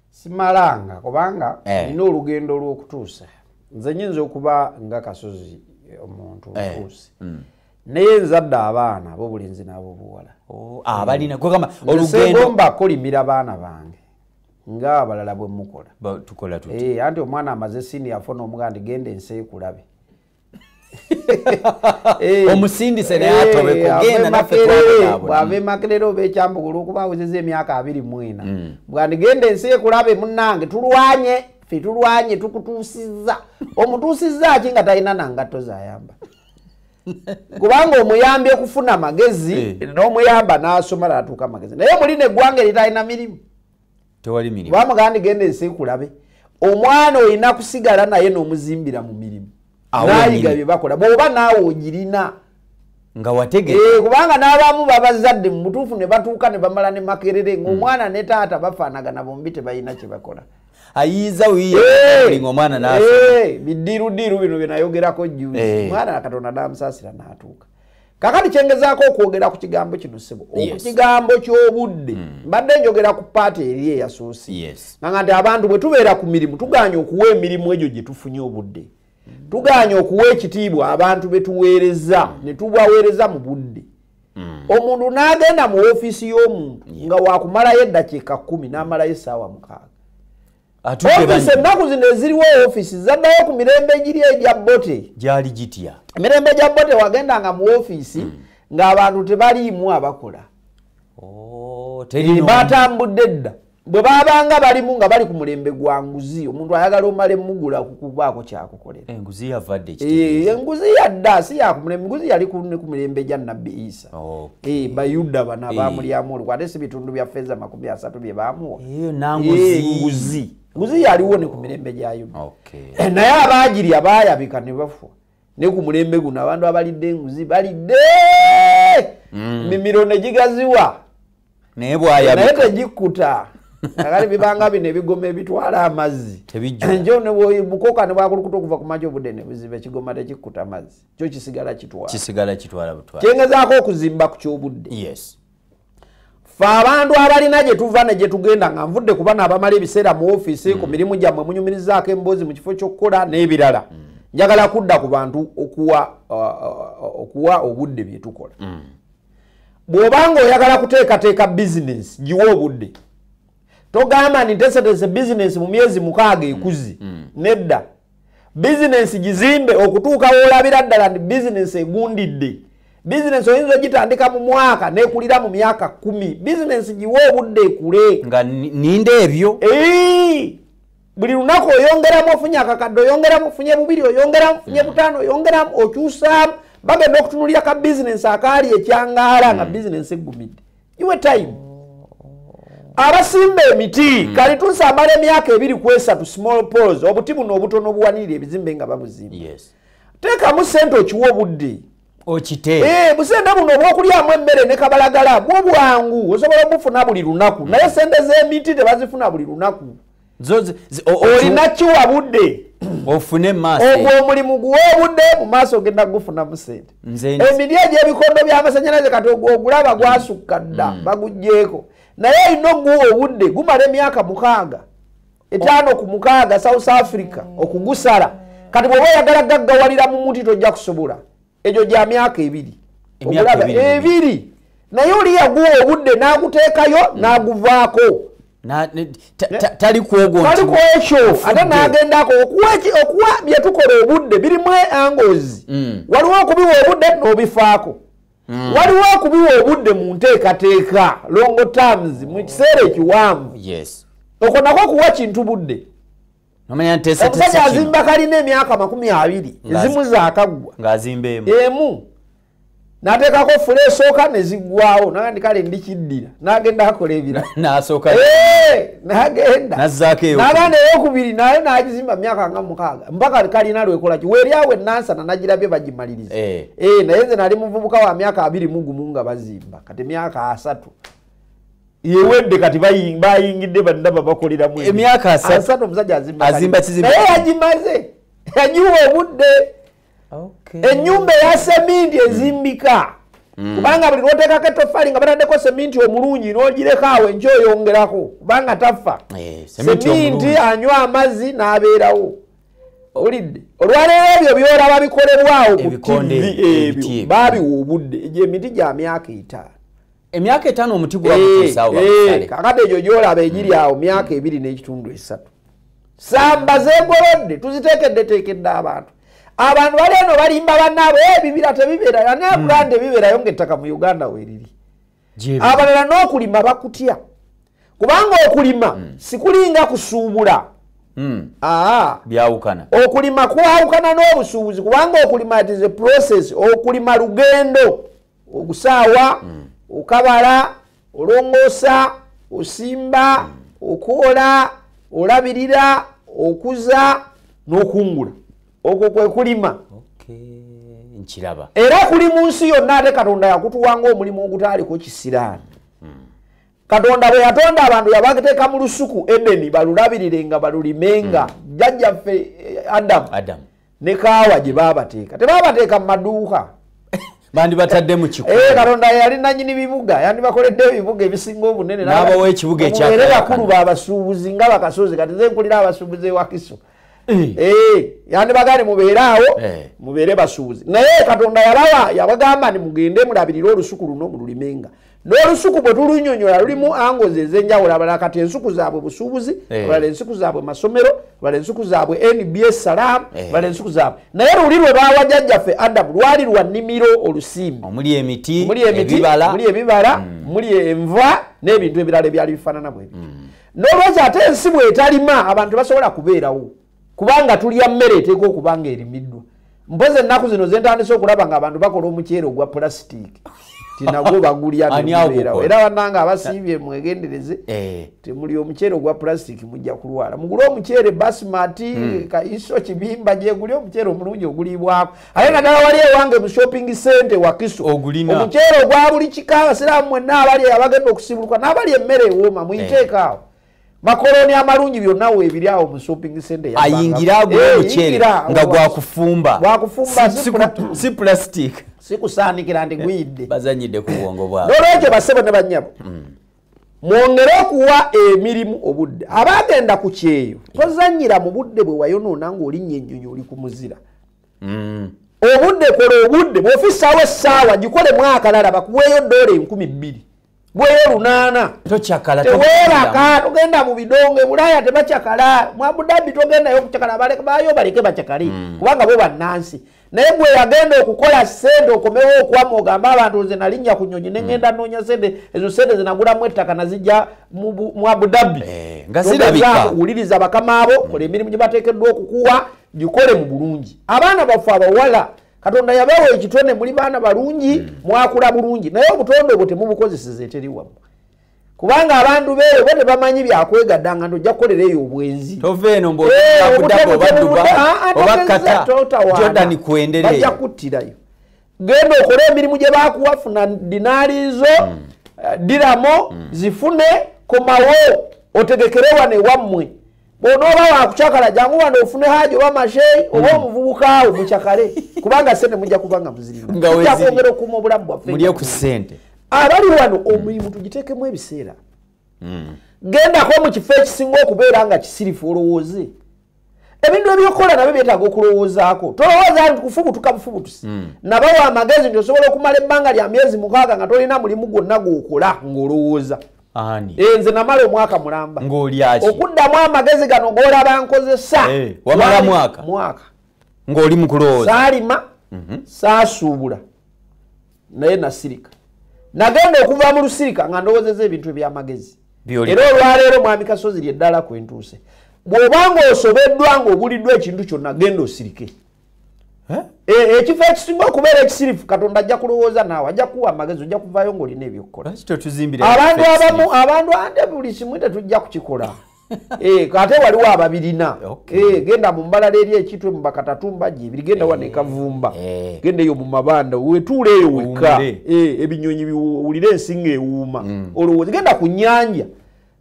Speaker 2: simalanga kubanga eh. nina olugendo olwokutuusa nze nyinza okuba nga kasozi eh, omuntu eh. ntuusi mm. naye nzadde abaana abo bulinzi nabo buwala oh,
Speaker 1: abalinaegomba ah, kolimira
Speaker 2: baana bange nga abalala bwemukola
Speaker 1: anti omwana amaze
Speaker 2: sini yafona omugandi genda ensi ekulabe
Speaker 1: Eh. omusindise naye eh, atobekugenda naffe bwava
Speaker 2: emakerera oba ekyambuka olwokuba awezeza emyaka abiri mwena mm. bwandigenda ensi ekulabe munange tulwanye fe tulwanye tukutuusiza omutuusiza ki nga talina nangatto zayamba kubanga omuyambi okufuna amagezi eh. n'omuyamba n'asoma natuuka amagezi naye muli neggwanga eritalina mirimu tewali
Speaker 1: mirimu ba muganda genda ensi
Speaker 2: kulabe omwana olina kusigala naye nomuzimbira mu mirimu nayiga bye bakola bwoba naawe ogirina nga
Speaker 1: watege eh, kubanga n'abamu
Speaker 2: babazadde mu butuufu ne batuuka ne bamala ne makerere ng'omwana hmm. ne taata bafaanagana bombi tebalina kye bakola ayiza
Speaker 1: wiyalinga omwana nasa bidiirudiiru
Speaker 2: bino byenayogerako jjuzi eh. omwana katonda namusaasira n'atuuka kakati kyengezaako okwogera ku kigambo kino sebo oku kigambo ky'obudde hmm. mbadde mm. njogera ku paati eri eyasuusi yes. nanga nti abantu bwe tubeera ku mirimu tuganye okuwa emirimu egyo gye tufunye obudde mm. tuganye okuwa ekitiibwa abantu be tuweereza mm. ne tubaweereza mu budde mm. omuntu n'agenda mu ofiisi y'omuntu yes. nga wakumalayo eddakiika kumi n'amalayo essaawa mukaaga ofisi ennaku zino eziriwo ofisi zaddayo ku mirembe egiri egya bote gyali gitya
Speaker 1: emirembe gya bote
Speaker 2: wagendanga mu ofisi hmm. ng'abantu tebaliimu abakola oh, batambudde dda bwe babanga balimu nga bali ku mulembe gwa nguzi omuntu ayagala omala emugula kukubaako kyakukolera
Speaker 1: enguzi eh, eh,
Speaker 2: yadda si yakumulembe nguzi yali ne ku mirembe gya nabbi isa Eh, bayuda bano eh. abamulyamu olukwe ate si bitundu bya feeza makumi asatu bye baamuwa nguzi nguzi yaliwo ne ku mirembe gya yuda naye abaagirya baayabika ne bafa ne ku mulembe guno abantu abalidde enguzi balidde mm. mimiro ne gigaziwa naye
Speaker 1: bwayabika naye tegikkuta
Speaker 2: agali bibanga bino ebigoma ebitwala amazzi njo nebukoka nebwakulukuta okuva ku maji obudde nebuziba ekigoma tekikkuta mazzi kyo kisigala kitwalakisigala kitwala butwala kyengezaako okuzimba ku kyobudde yes fe abantu abalina gye tuva ne gye tugenda nga nvudde ku bana abamala ebiseera mu ofiisi ku mm. mirimu gyammwe munyumirizaako emboozi mu kifo ky'okukola n'ebirala mm. njagala kudda ku bantu okuwa uh, uh, okuwa obudde bye tukola mm. bw'obanga oyagala kuteekateeka bizinesi giwa obudde togamba nti nteseteese bizinesi mu myezi mukaaga ekuzi nedda bizinensi gizimbe okutuuka woolabira ddala nti bizinensi egundidde bizinensi oyinza ogitandika mu mwaka nekulira mu myaka kumi bizinensi giwe obudde ekule nga ninda
Speaker 1: ebyo
Speaker 2: buli lunaku oyongeramu ofunye akakadde oyongeramu ofunye bubiri oyongeramu ofunye hmm. butaano oyongeramu okyusaamu bagenda okutunulira ka bizinensi akaali ekyangaala nga hmm. bizinensi eggumidde iwe time abasimba emiti mm. kali tunsi amala emyaka ebiri ku esatu small pos obuti buno obutono obuwanirira ebizimbe nga babuzimba yes. teekamu sente okiwa obudde okite eh,
Speaker 1: busente buno
Speaker 2: obwokulyamu emmere ne kabalagala bwo bwangu osobola obufuna buli lunaku mm. naye sente z'emiti tebazifuna buli lunaku olina kiwa budde ofune maaso
Speaker 1: ogwo omulimu
Speaker 2: guwobudde mu maaso ogenda kugufunamu sente emiri egyebikondo byamasanyalaze kati ogwo ogulaba gwasukka dda mm. bagugjeeko naye olina oguwa obudde gumala emyaka mukaaga etaano ku mukaaga south africa okugusala kati bwoba oyagala gaggawalira mu muti tojja kusobola egyo gya myaka ebiri omulaba ebiri naye oli yaguwa obudde n'aguteekayo mm. n'aguvaako
Speaker 1: tali kwogotali kwekyo ate
Speaker 2: n'agendako okuwa bye tukola obudde birimu angozi mm. waliwo okubiwa obudde n'obifaako mm. waliwo okubiwa obudde mu nteekateeka longo terms mu kiseera ekiwanvu okwo nako okuwa kintu budde omusajja azimba kalina emyaka makumi abiri ezimu zakaggwa emu nateekako fula esooka nezigwawo nagandi kale ndikiddira nagenda akola ebira nagendanagenda eyokubiri naye nagizimba myaka nga mukaaga mpaka kalina lwekolaki weryawo enansana nagirabye bagimaliriza eh. Eh, naye nze nali muvubuka wa myaka abiri mugumu nga bazimba kati myaka asatu yewedde kati bayingidde banaba bakoleramu emyaka asatu
Speaker 1: omusajja
Speaker 2: azimba kizimbaye
Speaker 1: yagimaze
Speaker 2: yagiwa obudde enyumba eya seminti ezimbika mm. kubanga buli lwotekako etofali nga bataddeko seminti omulungi nogireko awo enky oyongerako kubanga taffa eh, seminti anywa amazzi n'abeerawo owulidde olwaleero ebyo byolaba bikolebwawo ku tivi ebyo babiwa obudde egyo emiti gya myaka etaano emyaka etaano
Speaker 1: omuti gwagutuusaawo eh, eh, kakati egyo
Speaker 2: gyolaba egiri mm. awo myaka ebiri n'ekitundu esatu samba zegolodde tuziteekeddeteekedde abantu abantu bali eno balimba banaabo eh, ebibira tebibeera nanekulanda mm. ebibeerayo ngaettaka mu uganda weriri abalala n'okulima bakutya kubanga okulima mm. sikulinga kusuubula Hmm. Ah.
Speaker 1: byawukana okulima kwawukana
Speaker 2: n'obusuubuzi kubanga okulima it is a process okulima lugendo ogusaawa mm. okabala olongoosa osimba mm. okwola olabirira okuza n'okungula okwo kwe kulima
Speaker 1: nkiraba era kuli
Speaker 2: mu nsi yonna ate katonda yakutuwanga omulimu ogutaaliko kisiraani katonda bwe yatonda abantu yabateeka mu lusuku edeni balulabirire nga balulimenga hmm. jjajjaffe eh, adamu Adam. ne kaawa gye baabateeka tebaabateeka mu maduuka
Speaker 1: bandibatadde mu kikubo eh, katonda yali nanyini
Speaker 2: bibuga yandibakoledde ebibuga ebisinga obunene n'abawa ekibuga ekyakulu baabasuubuzi nga bakasozi
Speaker 1: kati
Speaker 2: ze nkulira abasuubuzi ewakiso Eh. Eh, yandibagane mubeeraawo eh. mubeere basuubuzi naye katonda yalawa yabagamba ni mugende mulabirire olusuku luno mululimenga n'olusuku bwe tulunyonyola lulimu angozi ezenjawulo abala kati ensuku zaabwe busuubuzi abala ensuku zaabwe masomero abala ensuku zaabwe nbs salaamu abala ensuku zaabwe naye luli lwe baawa jajjaffe adamu lwali lwa nimiro olusimbi omuli emiti
Speaker 1: muli ebibala
Speaker 2: muli mm. enva n'ebintu ebirala ebyali bifaanana bwebi mm. nolwekyo ate ensi bwetalima abantu tebasobola kubeerawo kubanga tulya mmere eteeka okuba nga erimiddwa mpozi ennaku zino zentandise okulaba nga abantu bakola omuceere ogwa pulasitiiki tinagwo bagulya nebeerawo era bananga abasiibye mwegendereze eh. temuli omuceere ogwa pulasitiiki mujja kulwala mugule omuceere basimati hmm. kaiso kibimba gyeguli omuceere omulungi oguliibwako ate naddala wali ewange mu shopping center wakiso omuceere ogwa buli kika abasiraamu mwenna abali abagenda okusibuluka n'abali emmere ewooma muyiteeko awo makoloni amalungi byonna webiri awo mu shopping center ayingire agula eh,
Speaker 1: omuceere nga gwakufumba si plastic sikusaanikira nti
Speaker 2: eh, guyidde bazanyidde ku bwongo
Speaker 1: bwabo nolwekyo basebo ne banyabo
Speaker 2: hmm. mwongere okuwa emirimu obudde abaagenda ku kyeyo tozanyira mu budde bwe wayonoona ng'olinnya ennyonyi oli ku muzira mm. obudde kola obudde bwofisaawo essaawa gikole mwaka lala bakuweeyo doola enkumi bbiri bweyo lunaana tewebaka togenda mu bidongo ebulaaya tebacakala mwabudabbi togendayo okucakala bayo baleke bacakale mm. kubanga bo bannansi naye gwe yagenda okukola sente okomewo okwama ogamba abantu nze nalinnya ku nyonyi nengenda hmm. noonya sente ezo sente zinagulamu ettaka nazijja mu abudabi eh,
Speaker 1: wuliriza bakama abo
Speaker 2: hmm. kola emirimu gye bateekeddwa okukuwa gikole mu bulungi abaana baffe abawala katonda yabawa ekitone muli baana balungi hmm. mwakula bulungi naye obutonde obwo temubukozeseza eteriwamu kubanga abantu beeyo bo tebamanyi byakwegadanga nti ojja kukolera eyo obwenzi tova eno
Speaker 1: mbobadubaobakatjordan eh, kwendereobajja kuttirayo
Speaker 2: genda okole emirimu gye bakuwa funa dinaali zo hmm. eh, diramo hmm. zifune komawo otegekere wano ewammwe bwonooba wakucakala jangu wano ofune haji oba masheyi oba hmm. omuvubukaawo mucakale kubanga sente mujja kuba nga muzirimujakwongera okuuma obulamu bwaffemulye ku sente
Speaker 1: abali wano
Speaker 2: omulimu tugitekemu ebiseera hmm. gendako mu kifo ekisinga okubeera nga kisirifu olowooze ebintu ebyokukola nabyo byetaaga okulowoozaako tolowooza nti kufubutuka bufubutusi hmm. nabawa amagezi nti osobola okumala ebbanga lya myezi mukaaga nga tolina mulimu gwonna gwokola ng'olowooza ani eh, nze namala omwaka mulamba ng'olyaki okuddamu amagezi gano g'olaba nkozesa eh, wamala mwaka
Speaker 1: mwaka ng'oli mu kulowooza saalima mhm.
Speaker 2: saasuubula naye nasirika nagenda okuva mu lusirika nga ndowozeza ebintu ebyamagezi era olwaleero mwami kasozi lyeddala kwentuuse bw'oba ng'osobeddwa ng'obuliddwa ekintu kyonna genda osirike Eh, ekifo ekisinga okubeera ekisirifu katonda ajja kulowooza naawe ajja kuwa amagezi ojja kuvaayo ngaolina ebyokukola abantu abamu abantu ande buli kimu tetujja kukikola eh, ate waliwo ababirina eh, genda mu mbalala eri ekitwe mu bakatatumba gyebiri genda wano ekavumba genda eyo mu mabanda wetuula eyo wekka ebinyonyi biwulire ensinga ewuuma mm. olowooza genda ku nyanja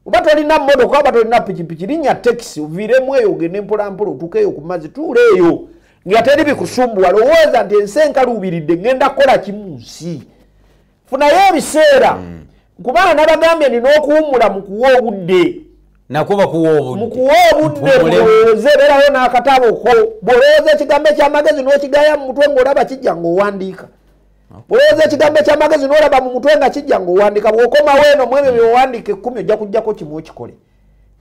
Speaker 2: oba tolina motoka oba tolina pikipiki linya tekisi oviiremu eyo ogende mpolampola otukeeyo ku mazzi tuula eyo nga teri bikusumbuwa lowooza nti ensi enkaluubiridde ŋŋenda kukola kimu nsi funayo ebiseera mm. kubanga nabagambye nina okuwummula mu kuwa obudde mukuwa obudde mulowooze beerayo n'akatabo ko bw'olowooza ekigambo eky'amagezi n'okigaya mu mutwe ng'olaba kijja ng'owandiika olowooza ekigambo ekyamagezi nolaba mu mutwe nga kijja ngaowandika bwokomawo eno mu ebyo byowandika ekkumi ojja kujjako kimu okikole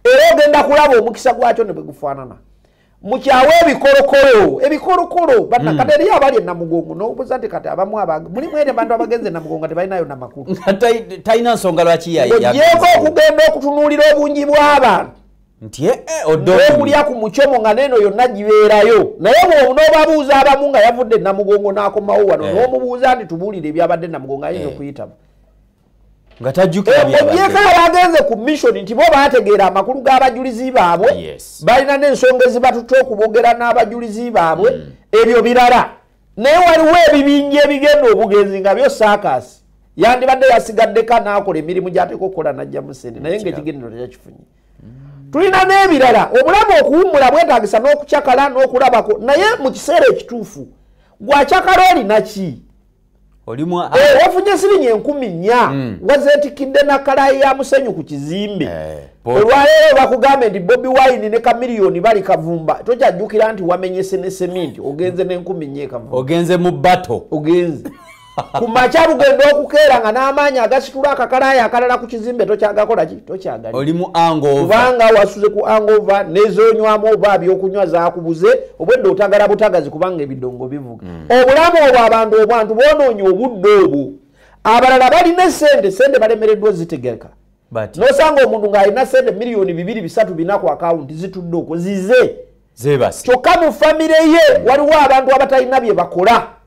Speaker 2: era ogenda kulaba omukisa gwakyo ne bwe gufaanana mukyawe ebikolokolo ebikolokolo banakati hmm. eriyo abali enamugongo nobuza nti kati abamu mulimu ere bantu abagenza enamugongo tebalinayo namakulu talina nsonga
Speaker 1: lwaki yayeko okugenda
Speaker 2: okutunuulira obungi bw'abantu nti eh, eh, okulya ku mucomo nga neeno yonna gibeerayo naye bwobu n'obabuuza abamu nga yavudde namugongo n'akomawo wano eh. n'omubuuza nti tubuulire ebyabadde namugongo ayinza okuyitamu
Speaker 1: nga tajjukiraogyeko abagenze
Speaker 2: ku mission nti bo baategeera amakulu g'abajulizi baabwe balina n'ensonga ezibatutte okubogera n'abajulizi baabwe mm. ebyo birala naye waliwo ebibinja ebigenda obugenzi nga byo saakasi yandibadde yasigaddeko anaakola emirimu gyateeka okukola najja musente naye ngaekigendero tekyakifunye tulina n'ebirala obulamu okuwummula bwetagisa n'okucakala n'okulabako naye mu kiseera ekituufu gwacakala olinaki
Speaker 1: wafunye
Speaker 2: siringi enkumi nnya hmm. wazetikidde nakalayi ya musenyu ku kizimbe eh, olwaleero bakugambe nti bobi wine ne kamiliyoni bali kavumba tokyajjukira nti wamenyese ne seminti ogenze nenkumi nnya ekavumba ogenze mu bato
Speaker 1: ogenze
Speaker 2: ku makya lugenda okukeera nga n'amaanyi agasitula akakalaayo akalala ku kizimbe tokyagakola ki tokyagali oli mu angokubanga
Speaker 1: wasuze ku
Speaker 2: angova nezonywamu oba byokunywa zakubuze obwedde otagala butagazi kubanga ebidongo bivuga mm. obulamu obwo abantu obwantu bwonoonye obudde obwo abalala balina esente sente balemereddwa ozitegerka nosanga omuntu ng'alina sente miliyoni bibiri bisatu bina ku akawunti zitudde okwo zize kyokka
Speaker 1: mu famire
Speaker 2: ye waliwo abantu abatalina bye bakola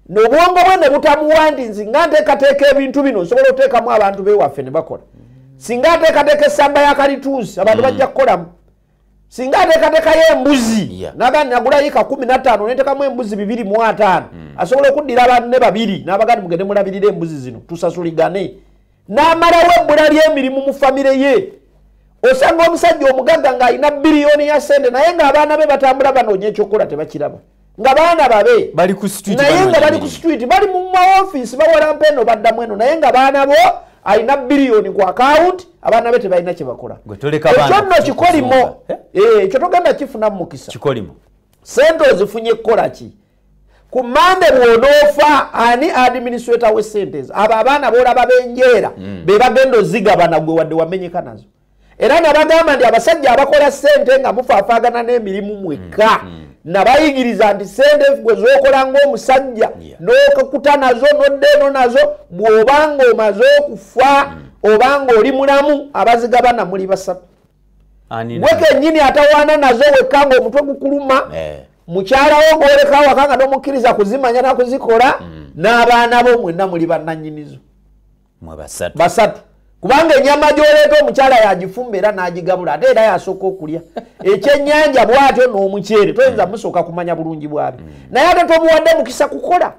Speaker 2: nobwongo bwe ne butamuwandinzi nga nteekateeka ebintu bino nsobola oteekamu abantu bewaffe ne bakola singa ateekateeka essamba ya kalituusi abantu mm. bajja kukolamu singa ateekateekayo embuzi naga nagulayo ka kumi nataano netekamu embuzi bibiri mu ataano mm. asobola okuddira abantu ne babiri n'abagandi mugende mulabirira embuzi zino tusasuligane n'amalawo ebbula ly'emirimu mu famire ye osanga omusajja omugagga ng'alina biriyoni ya sente naye ng'abaana be batambula banoonya ekyokukola tebakiraba nga baana babe naye
Speaker 1: nga bali ku situiti
Speaker 2: bali mu maofiisi bawalampa eno baddamu eno naye nga baana bo alina biriyoni ku akawunti abaana be tebalina kyebakola ekyo nno kikolimo eh? Eh, ekyo togenda kifunamu mukisa
Speaker 1: sente
Speaker 2: ozifunye kukola ki ku mande bwonoofa ani administrator we sente ezo abo abaana boolaba benjeera mm. be bagenda ozigabana gwe wadde wamenyeka nazo era nabagamba nti abasajja abakola sente nga mufaafaagana n'emirimu mwekka mm, mm. nabayigiriza nti sente gwe zokola ngaomusajja nokuta nazo nodda eno nazo bw'obanga omaze okufa obanga oli mulamu abazigabana muli basatu gwe kenyini atawaana nazo wekka ngaomutwe gukuluma eh. mukyala wo gwoleka awaka nga tomukkiriza kuzimanya nakuzikola mm. n'abaana bo mwenna muli bannanyinizo basatu kubanga enyama gyoleeta omukyala yagifumba era n'agigabula ate era yasooka okulya ekyennyanja bwatyo n'omuceere toyinza mm. musooka kumanya bulungi bwabi mm. naye ate tomuwadde mukisa kukola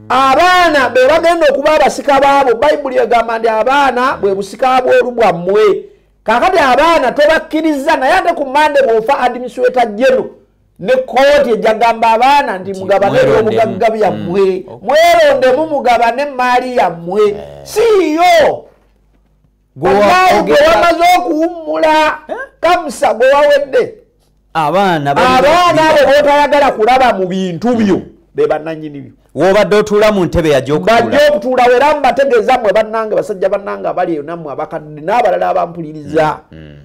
Speaker 2: abaana be bagenda okuba abasika baabo bayibuli egamba nti abaana bwe busika bwolu bwammwe kakati abaana tobakkiriza naye ate ku mande bwofa administrata jeno ne kooti ejagamba abaana nti mugabane ebyobugagga byammwe mm. mwerondemu mugabane emaali yammwe eh. siiyo gwewayi gwewamaze okuwummula eh? kamusa gwewawedde abaana abaana abo botayagala kulaba mu bintu byo bebananyini byo wobadde otuula mu
Speaker 1: ntebe yajobajja okutuulawo era
Speaker 2: mubategeeza mwe bannange basajja bannange abali eyo nammwe abakadde n'abalala abampuliriza mm, mm.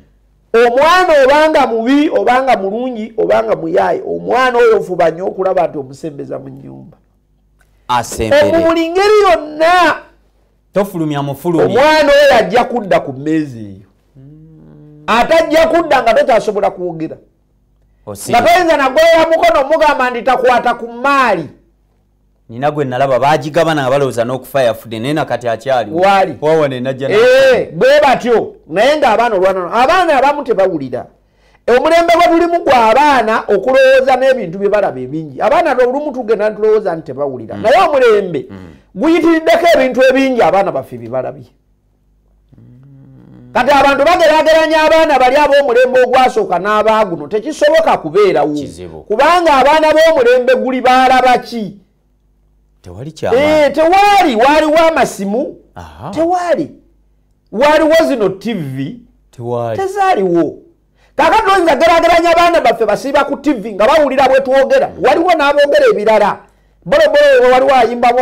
Speaker 2: omwana obanga mubi obanga mulungi obanga muyaaye omwana oyo ofuba nyo okulaba nti omusembeza mu nyumba omu buli ngeri yonna tofulumya
Speaker 1: mufulumi omwana oyo ajja
Speaker 2: kudda ku mmeezi eyo ate ajja kudda nga tokyasobola kwogera nga toyinza nagolola mukono omugamba nti takwata ku maali nina
Speaker 1: gwe nalaba bagigabana nga balowooza n'okufa yafudde naye nakati akyali wali wawanenajja
Speaker 2: eh,
Speaker 1: bwe batyo
Speaker 2: naye ng'abaana olwanano abaana abamu tebawulira omulembe gwe tulimu gwa abaana okulowooza n'ebintu bye balaba ebingi abaana olumu tugenda ntulowooza nti tebawulira mm. naye omulembe mm. guyitiriddeko ebintu ebingi abaana baffe bye balabye mm. kati abantu bagerageranya abaana bali ab'omulembe ogwasooka n'abaaguno tekisoboka kubeerawo kubanga abaana b'omulembe guli baalaba ki tewali kyamaanyi eh, tewali waaliwo amasimu tewali waaliwo zino tv tewali tezaaliwo kakati oyinza gerageranya abaana baffe basiiba ku tv nga bawulira bwe twogera mm. waliwo n'abogera ebirala bolobolo waliwo ayimbamu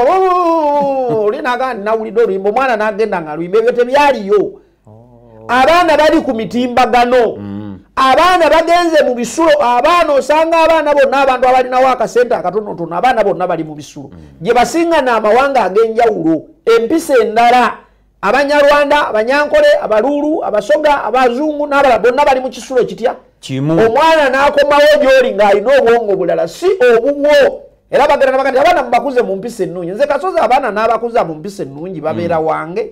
Speaker 2: oli nagaa nawulidde oluyimba omwana n'agenda nga luyimba ebyo tebyaliyo oh. abaana bali ku mitimbagano mm. abaana bagenze mu bisulo abaana osanga abaana bonna abantu abalinawo akasente akatonotono abaana bonna bali mu bisulo mm. gye basinga n'amawanga ag'enjawulo empisa endala abanyarwanda abanyankole abaluulu abasoga abazungu n'abalala bonna bali mu kisulo kitya omwana n'akomawo gy'oli ng'alina obwongo bulala si obubwo era bagenda nabaga nti abaana mubakuze mu mpisa ennungi nze kasozi abaana n'abakuza mu mpisa ennungi babeera mm. wange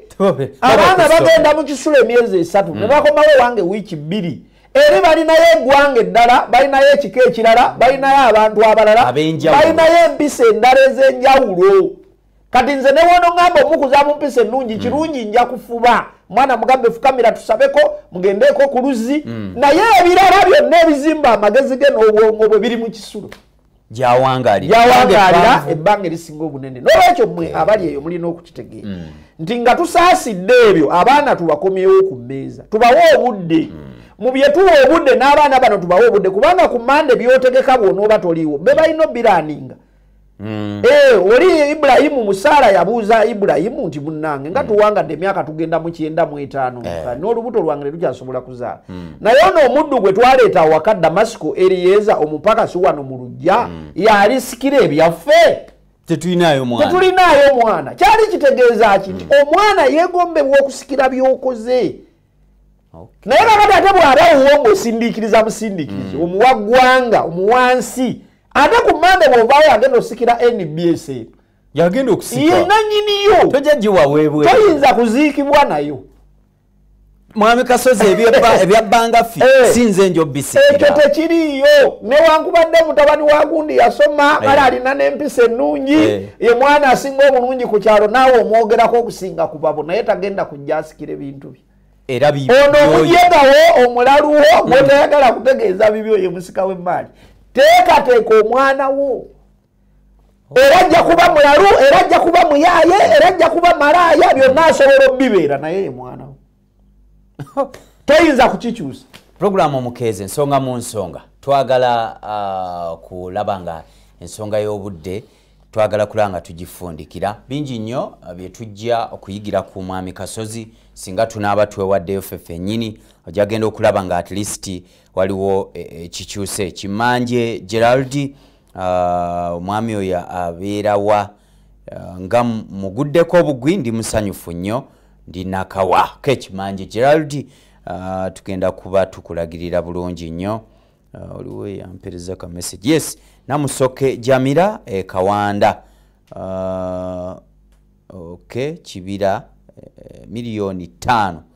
Speaker 2: abaana bagenda mu kisulo emyezi esatu mm. ne bakomawo wange wiiki bbiri eri balinayo egwanga eddala balinayo ekika ekirala balinayo abantu abalala balinayo empisa endala ez'enjawulo kati nze newono ŋamba omukuza mu mpisa ennungi mm. kirungi nja kufuba mwana mugambe fukamira tusabeko mugendeeko ku luzzi naye ebirala byonna ebizimba amagezi ge n'obwongo bwe biri mu kisulo gyawangaalira ebbanga erisinga obunene nolwekyo mwe abali eyo mulina okukitegeera mm. nti nga tusaasidde ebyo abaana tubakomyewo ku mmeeza tubawe obudde mm. mu byetuwa obudde n'abaana bano tubawe obudde kubanga ku mande byotegeka bwona oba toliiwo be balina obiraninga Mm. Eh, oli Ibrahimu musala yabuuza Ibrahimu nti munange nga mm. tuwangadde emyaka tugenda mu kyenda mu etaano eh. n'olubuto lwange lukyasobola Kamuza mm. naye ono omuddu gwe twaleeta awaka Damasiko Erieza omupakasi wano mu lujja mm. yalisikira ebyaffe
Speaker 1: tetulinaayo mwana
Speaker 2: kyali kitegeeza ki nti mm. omwana yegombebwa okusikira byokoze naye kakati ate bwaba wuwo ngaosindiikiriza busindiikiriza mm. omuwa ggwanga omuwansi ate ku mande bwovaayo agenda osikira nbs yagenda
Speaker 1: okusiyenanyiniyo
Speaker 2: toyinza
Speaker 1: kuziikibwa
Speaker 2: nayo
Speaker 1: mwami kasozi ebyabbanga fi eh. sinze njo bisikira ekyo tekiriiyo
Speaker 2: newankubadde mutabani wa gundi yasoma kale eh. alina n'empisa ennungi eh. ye mwana asinga obulungi ku kyalo naawe omwogerako okusinga ku babo naye tagenda kujja asikira ebintu bye era ono
Speaker 1: omujegawo
Speaker 2: omulaluwo gwetayagala mm. kutegeeza bibyo ye musika w'emmaali teekateeka omwana wo era ajja kuba mulalu era ajja kuba muyaaye era ajja kuba malaaya byonna asobola obibeera naye ye mwana we toyinza kukikyusa pulogulaamu omukeezi
Speaker 1: ensonga mu nsonga twagala uh, kulaba nga ensonga y'obudde twagala kulaba nga tugifundikira bingi nnyo uh, byetujja okuyigira ku mwami kasozi singa tunaaba twewaddeyo fe fenyini ojagenda okulaba nga at least waliwo e, e, ekikyuse kimanje geraldi ah, omwami uh, oyo abeerawa uh, nga muguddeko obugwi ndi musanyufu nnyo ndi nakawa kekimanje gerald uh, tugenda kuba tukulagirira bulungi nnyo uh, oliwo yampereza ka message yes namusoke jamira e eh, kawanda uh, ok kibira eh, miliyoni ttaano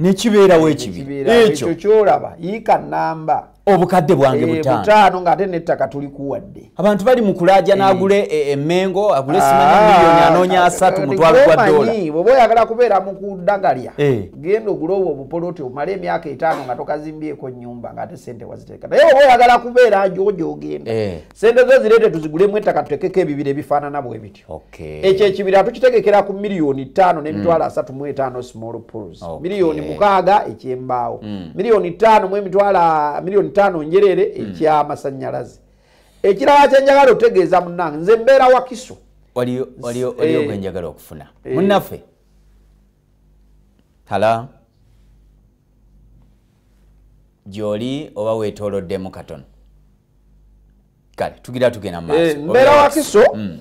Speaker 2: nekibeerawo
Speaker 1: ekibiekyo kyolaba
Speaker 2: yiika namba obukadde bwange eh,
Speaker 1: butaano ngaate
Speaker 2: nettaka tulikuwadde abantu bali mu kulaaja
Speaker 1: n'agule eh. e, emengo agule simanyamiliyoni ah, anoonya eh, asatu mutwalo gwa dola bwoba oyagala kubeera
Speaker 2: mu kudagalya genda ogule obwo obupoloti omale emyaka etaano nga tokazimbyeko nyumba ngaate sente waziteeka naye oba oyagala kubeera jojo ogenda sente zo zireete tuzigulemu ettaka tutekeko ebibira ebifaanana bwebityo ekyo ekibira tukitegekera ku miliyoni ttaano n'emitwalo hmm. asatu mu etaano small pools miliyoni mukaaga ekyembaawo hmm. miliyoni ttaano mu emitwalo miliyoni ttaano njerere hmm. ekyamasanyalaze ekirala kyenjagala otegeeza munange nze mbeera wakiso waliyo
Speaker 1: eh. gwenjagala okufuna eh. munaffe hala gyoli oba wetoloddemu katono kale tugira tugenda maaso eh, mbeera wakiso
Speaker 2: mm.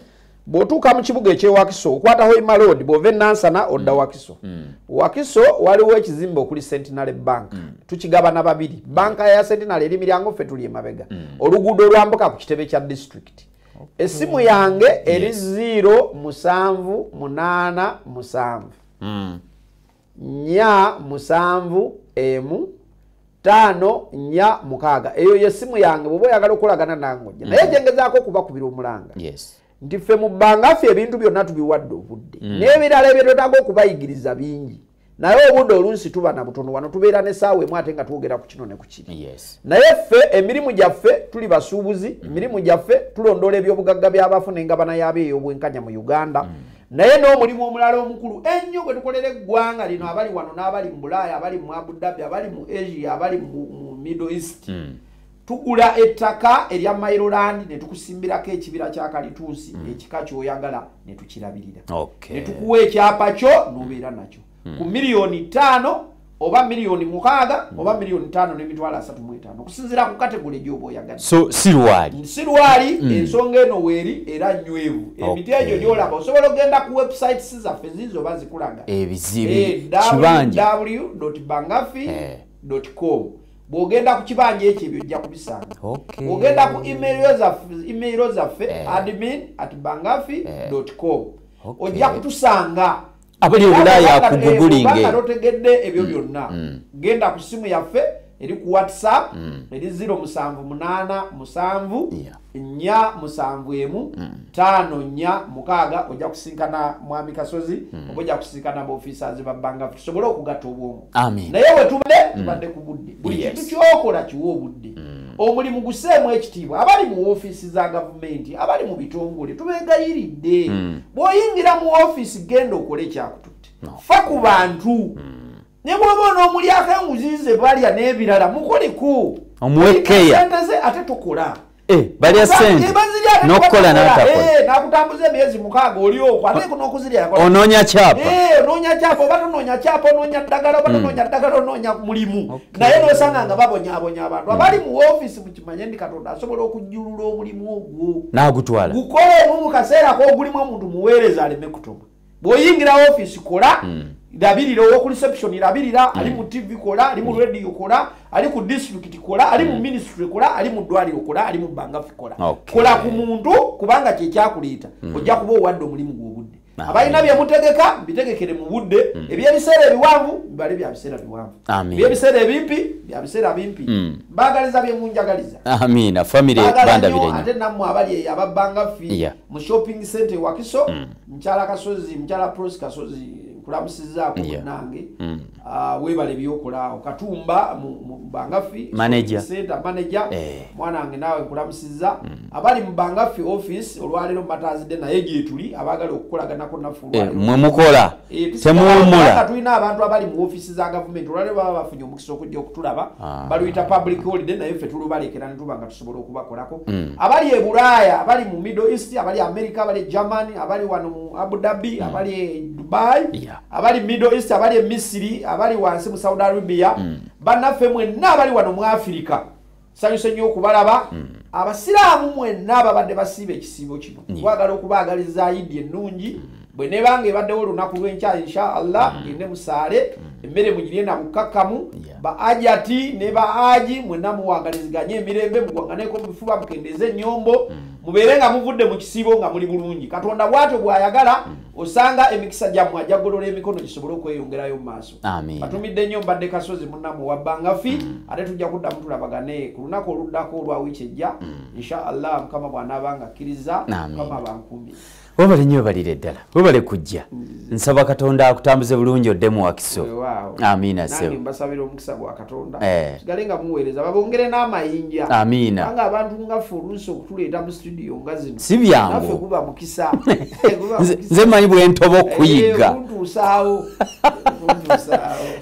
Speaker 2: bwotuuka mu kibuga ekyewakiso okwata hoima road bwova enansana odda mm. wakiso mm. wakiso waliwo ekizimbe okuli centenary bank mm. tukigabana babiri banka ya centenary eri miryango ffe tuli emabega mm. oluguudo olwambuka ku kitebe kya district okay. esimu yange eri yes. 0 musanvu munaana musanvu mm. nya musanvu emu taano nya mukaaga eyo yesimu yange bwoba oyagala okolagana nange oja naye mm. gyengezaako okubakubira omulanga nti ffe mu bbanga ffe ebintu byonna tubiwadde obudde mm. n'ebirala ebyetwetaaga okubayigiriza bingi naye obudde olunsi tuba na butono wano tubeera nesaawa emu ate nga twogera ku kino ne ku kiri naye ffe emirimu gyaffe tuli basuubuzi mm. emirimu gyaffe tulondoola ebyobugagga by'abafu n'engabana yaabyo ey'obwenkanya mu uganda mm. naye n'omulimu omulala omukulu ennyo gwe tukolera eggwanga lino abali wano n'abali mu bulaaya abali mu abu dhabi abali mu asia abali mu middle east mm. tugula ettaka erya mairoland ne tukusimbirako ekibira kya kalituusi mm. ekika ky'oyagala ne tukirabirira okay. ne tukuwa ekyapa kyo n'obeera nakyo ku hmm. miliyoni ttaano oba miliyoni mukaaga hmm. oba miliyoni ttaano n'emitwalo asatu mu etaano okusinziira ku kategole gyoba oyagadde so si lwali
Speaker 1: si lwali
Speaker 2: hmm. ensonga eno weeri era nywevu emiti egyo gyolaba osobola okugenda ku websites zaffe ziizo oba zikulaga ebizibu
Speaker 1: eh, ww bangafi
Speaker 2: eh. com bwogenda ku kibanja ekyo ebyo ojja kubisanga ogenda ku emailo zaffe eh. admin at bangafi com ojja kutusanga
Speaker 1: abali obulaaya akugugulinge otegedde ebyo mm.
Speaker 2: byonna mm. genda ku simu yaffe eri ku whatsapp mm. eri 0 musanvu munaana musanvu nya musanvu emu taano nya mukaaga ojja kusinkana mwami kasozi oba ojja kusinkana baofisazi babbanga tusobole okugatta obwongo naye wetubadde mm. tubadde ku budde buli kintu kyokola kiwa obudde mm. omulimu guseemu ekitiibwa abali mu ofiisi za gavumenti abali mu bitongole tubegayiridde mm. bwoyingira mu ofiisi genda okole ekyakututte fa ku bantu ne bwoba onoomulyako enguzi ze balya n'ebirala mukoliko omuwekeya
Speaker 1: ate tukola
Speaker 2: Eh, balya
Speaker 1: sente eh, nokukola natakonakutambuza eh, emyezi
Speaker 2: mukaaga oli okwo ate kuno okuzirya yakola onoonya kyapa
Speaker 1: onoonya kyapa oba
Speaker 2: tonoonya kyapa onoonya ddagala oba hmm. tonoonya ddagala onoonya mulimu naye nosanga nga babonyabonya abantu hmm. abali mu ofiisi mukimanye ndi katonda asobola okujjulula omulimu ogwo nagutwala gukolemu
Speaker 1: mu kaseera
Speaker 2: kogulimu omuntu muweereza aleme kutuma bwoyingira office kola hmm. labirira owoku reception labirira hmm. ali mu tv kola ali mu hmm. radio kola ali ku district kola ali mu ministry kola ali mu ddwaliro kola ali mu bangafi kola kola ku muntu kubanga kyekyakuleeta ojja kuba owadde omulimu gwobudde abalina byemutegeka bitegekere mu budde ebyebiseera ebiwanvu bibale bya biseera biwanvu ebyebiseera ebimpi bya biseera bimpi bagaliza byemunjagaliza amiina famire
Speaker 1: bandabire ate nammwe abali eyo
Speaker 2: ababbangafi mu shopping center ewakiso mukyala kasozi mukyala prosi kasozi nkulamusizaako munange mm. ah, webala ebyokolaawo katumba mubangafi senta
Speaker 1: manaja eh.
Speaker 2: mwana wange naawe nkulamusiza mm. abali mubangafi office olwaleero mubatazidde naye gyetuli abagala okukolaganako nafulmwe eh, mukola
Speaker 1: eh, temuwumula tulina abantu abali
Speaker 2: mu ofisi za gavumenti olwaleero baba bafunye omukisa okujja okutulaba ah. baluyita public holiday naye ffe tulubalekera netubanga sobola okubakolako mm. abali e bulaaya abali mu middle east abali america abali e germany abali wano mu abu dhabi mm. abali e dubai yeah. abali middle east abali e misiri abali wansi mu saudi arabia mm. bannaffe mwenna abali wano mu afirika sanyuse nnyo okubalaba mm. abasiraamu mwenna ababadde basiiba ekisiibo kino yeah. kwagala okubaagaliza idi ennungi mm. bwe nebanga ebaddewo olunaku lwenkya insha allah mm. gende musaale mm. emmere mugirye na bukkakkamu ba ajati ne ba aji mwena muwangaliziganye emirembe mugwanganeko mubifuba mukendeze enyombo mm. mubeere nga muvudde mu kisiibo nga muli bulungi katonda bwatyo bwayagala osanga emikisa gyammwe ajagolola emikono gisobole okweyongerayo mu maaso atumidde nnyo mbadde kasozi munamu wabbanga fi ate tujja kudda mutulabagane ku lunaku oluddako olwa wiiki ejja insha allah mukama bwanaaba nga akkiriza mukama bankumbi webale nyo webalire
Speaker 1: ddala webale kujja mm. nsaba katonda akutambuze bulungi oddemu wakiso amiina sebmbasabira
Speaker 2: omukisa gwa katonda eh. sigale nga muweereza babongere n'amayinja amiina anga abantu
Speaker 1: ngaffe
Speaker 2: oluusi okutuleeta mu studio nga zino si byangu guba
Speaker 1: mukisa
Speaker 2: nze
Speaker 1: manyi bwentoba eh, okuyigga ntuusaawo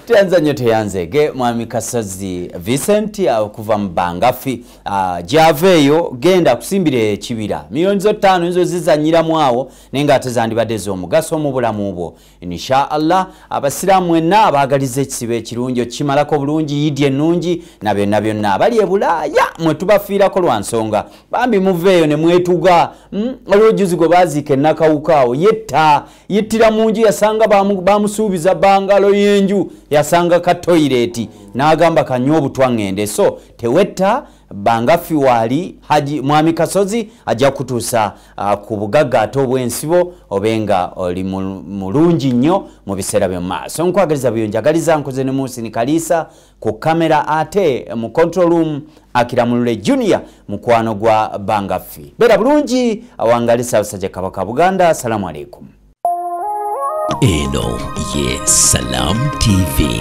Speaker 1: teyanza nnyo teyanzege mwami kasazi vincent okuva mu bangafi Ah, gyava eyo genda kusimbira ekibira miliyoni zo ttaano nizo zizanyiramu awo naye nga ate zandibadde ez'omugaso mu bulamu bwo insha allah abasiraamu mwenna abaagaliza ekisibo ekirungi okimalako bulungi yidi ennungi na byonna byonna abali ebulaaya mwe tubafiirako lwa nsonga bambi muva eyo ne mwetuga hmm? waliwo juzi gwe baaziika ennakawukaawo yetta yittira mu nju yasanga bamusuubiza bangalo y'enju yasanga ka toyireeti n'agamba kanywa obutwa ŋŋende so tewetta banga ffi waali haji mwami kasozi ajja kutuusa uh, ku bugagga ate obw'ensibo obe nga oli mulungi nnyo mu biseera byo maaso nkwagaliza byo njagaliza nkoze ne muusini kaliisa ku kamera ate mu control room akiramulule junior mukwano gwa banga ffi beera bulungi awangali saabasajja kabaka buganda assalamu alaikum
Speaker 3: eno ye
Speaker 1: salaam
Speaker 3: tv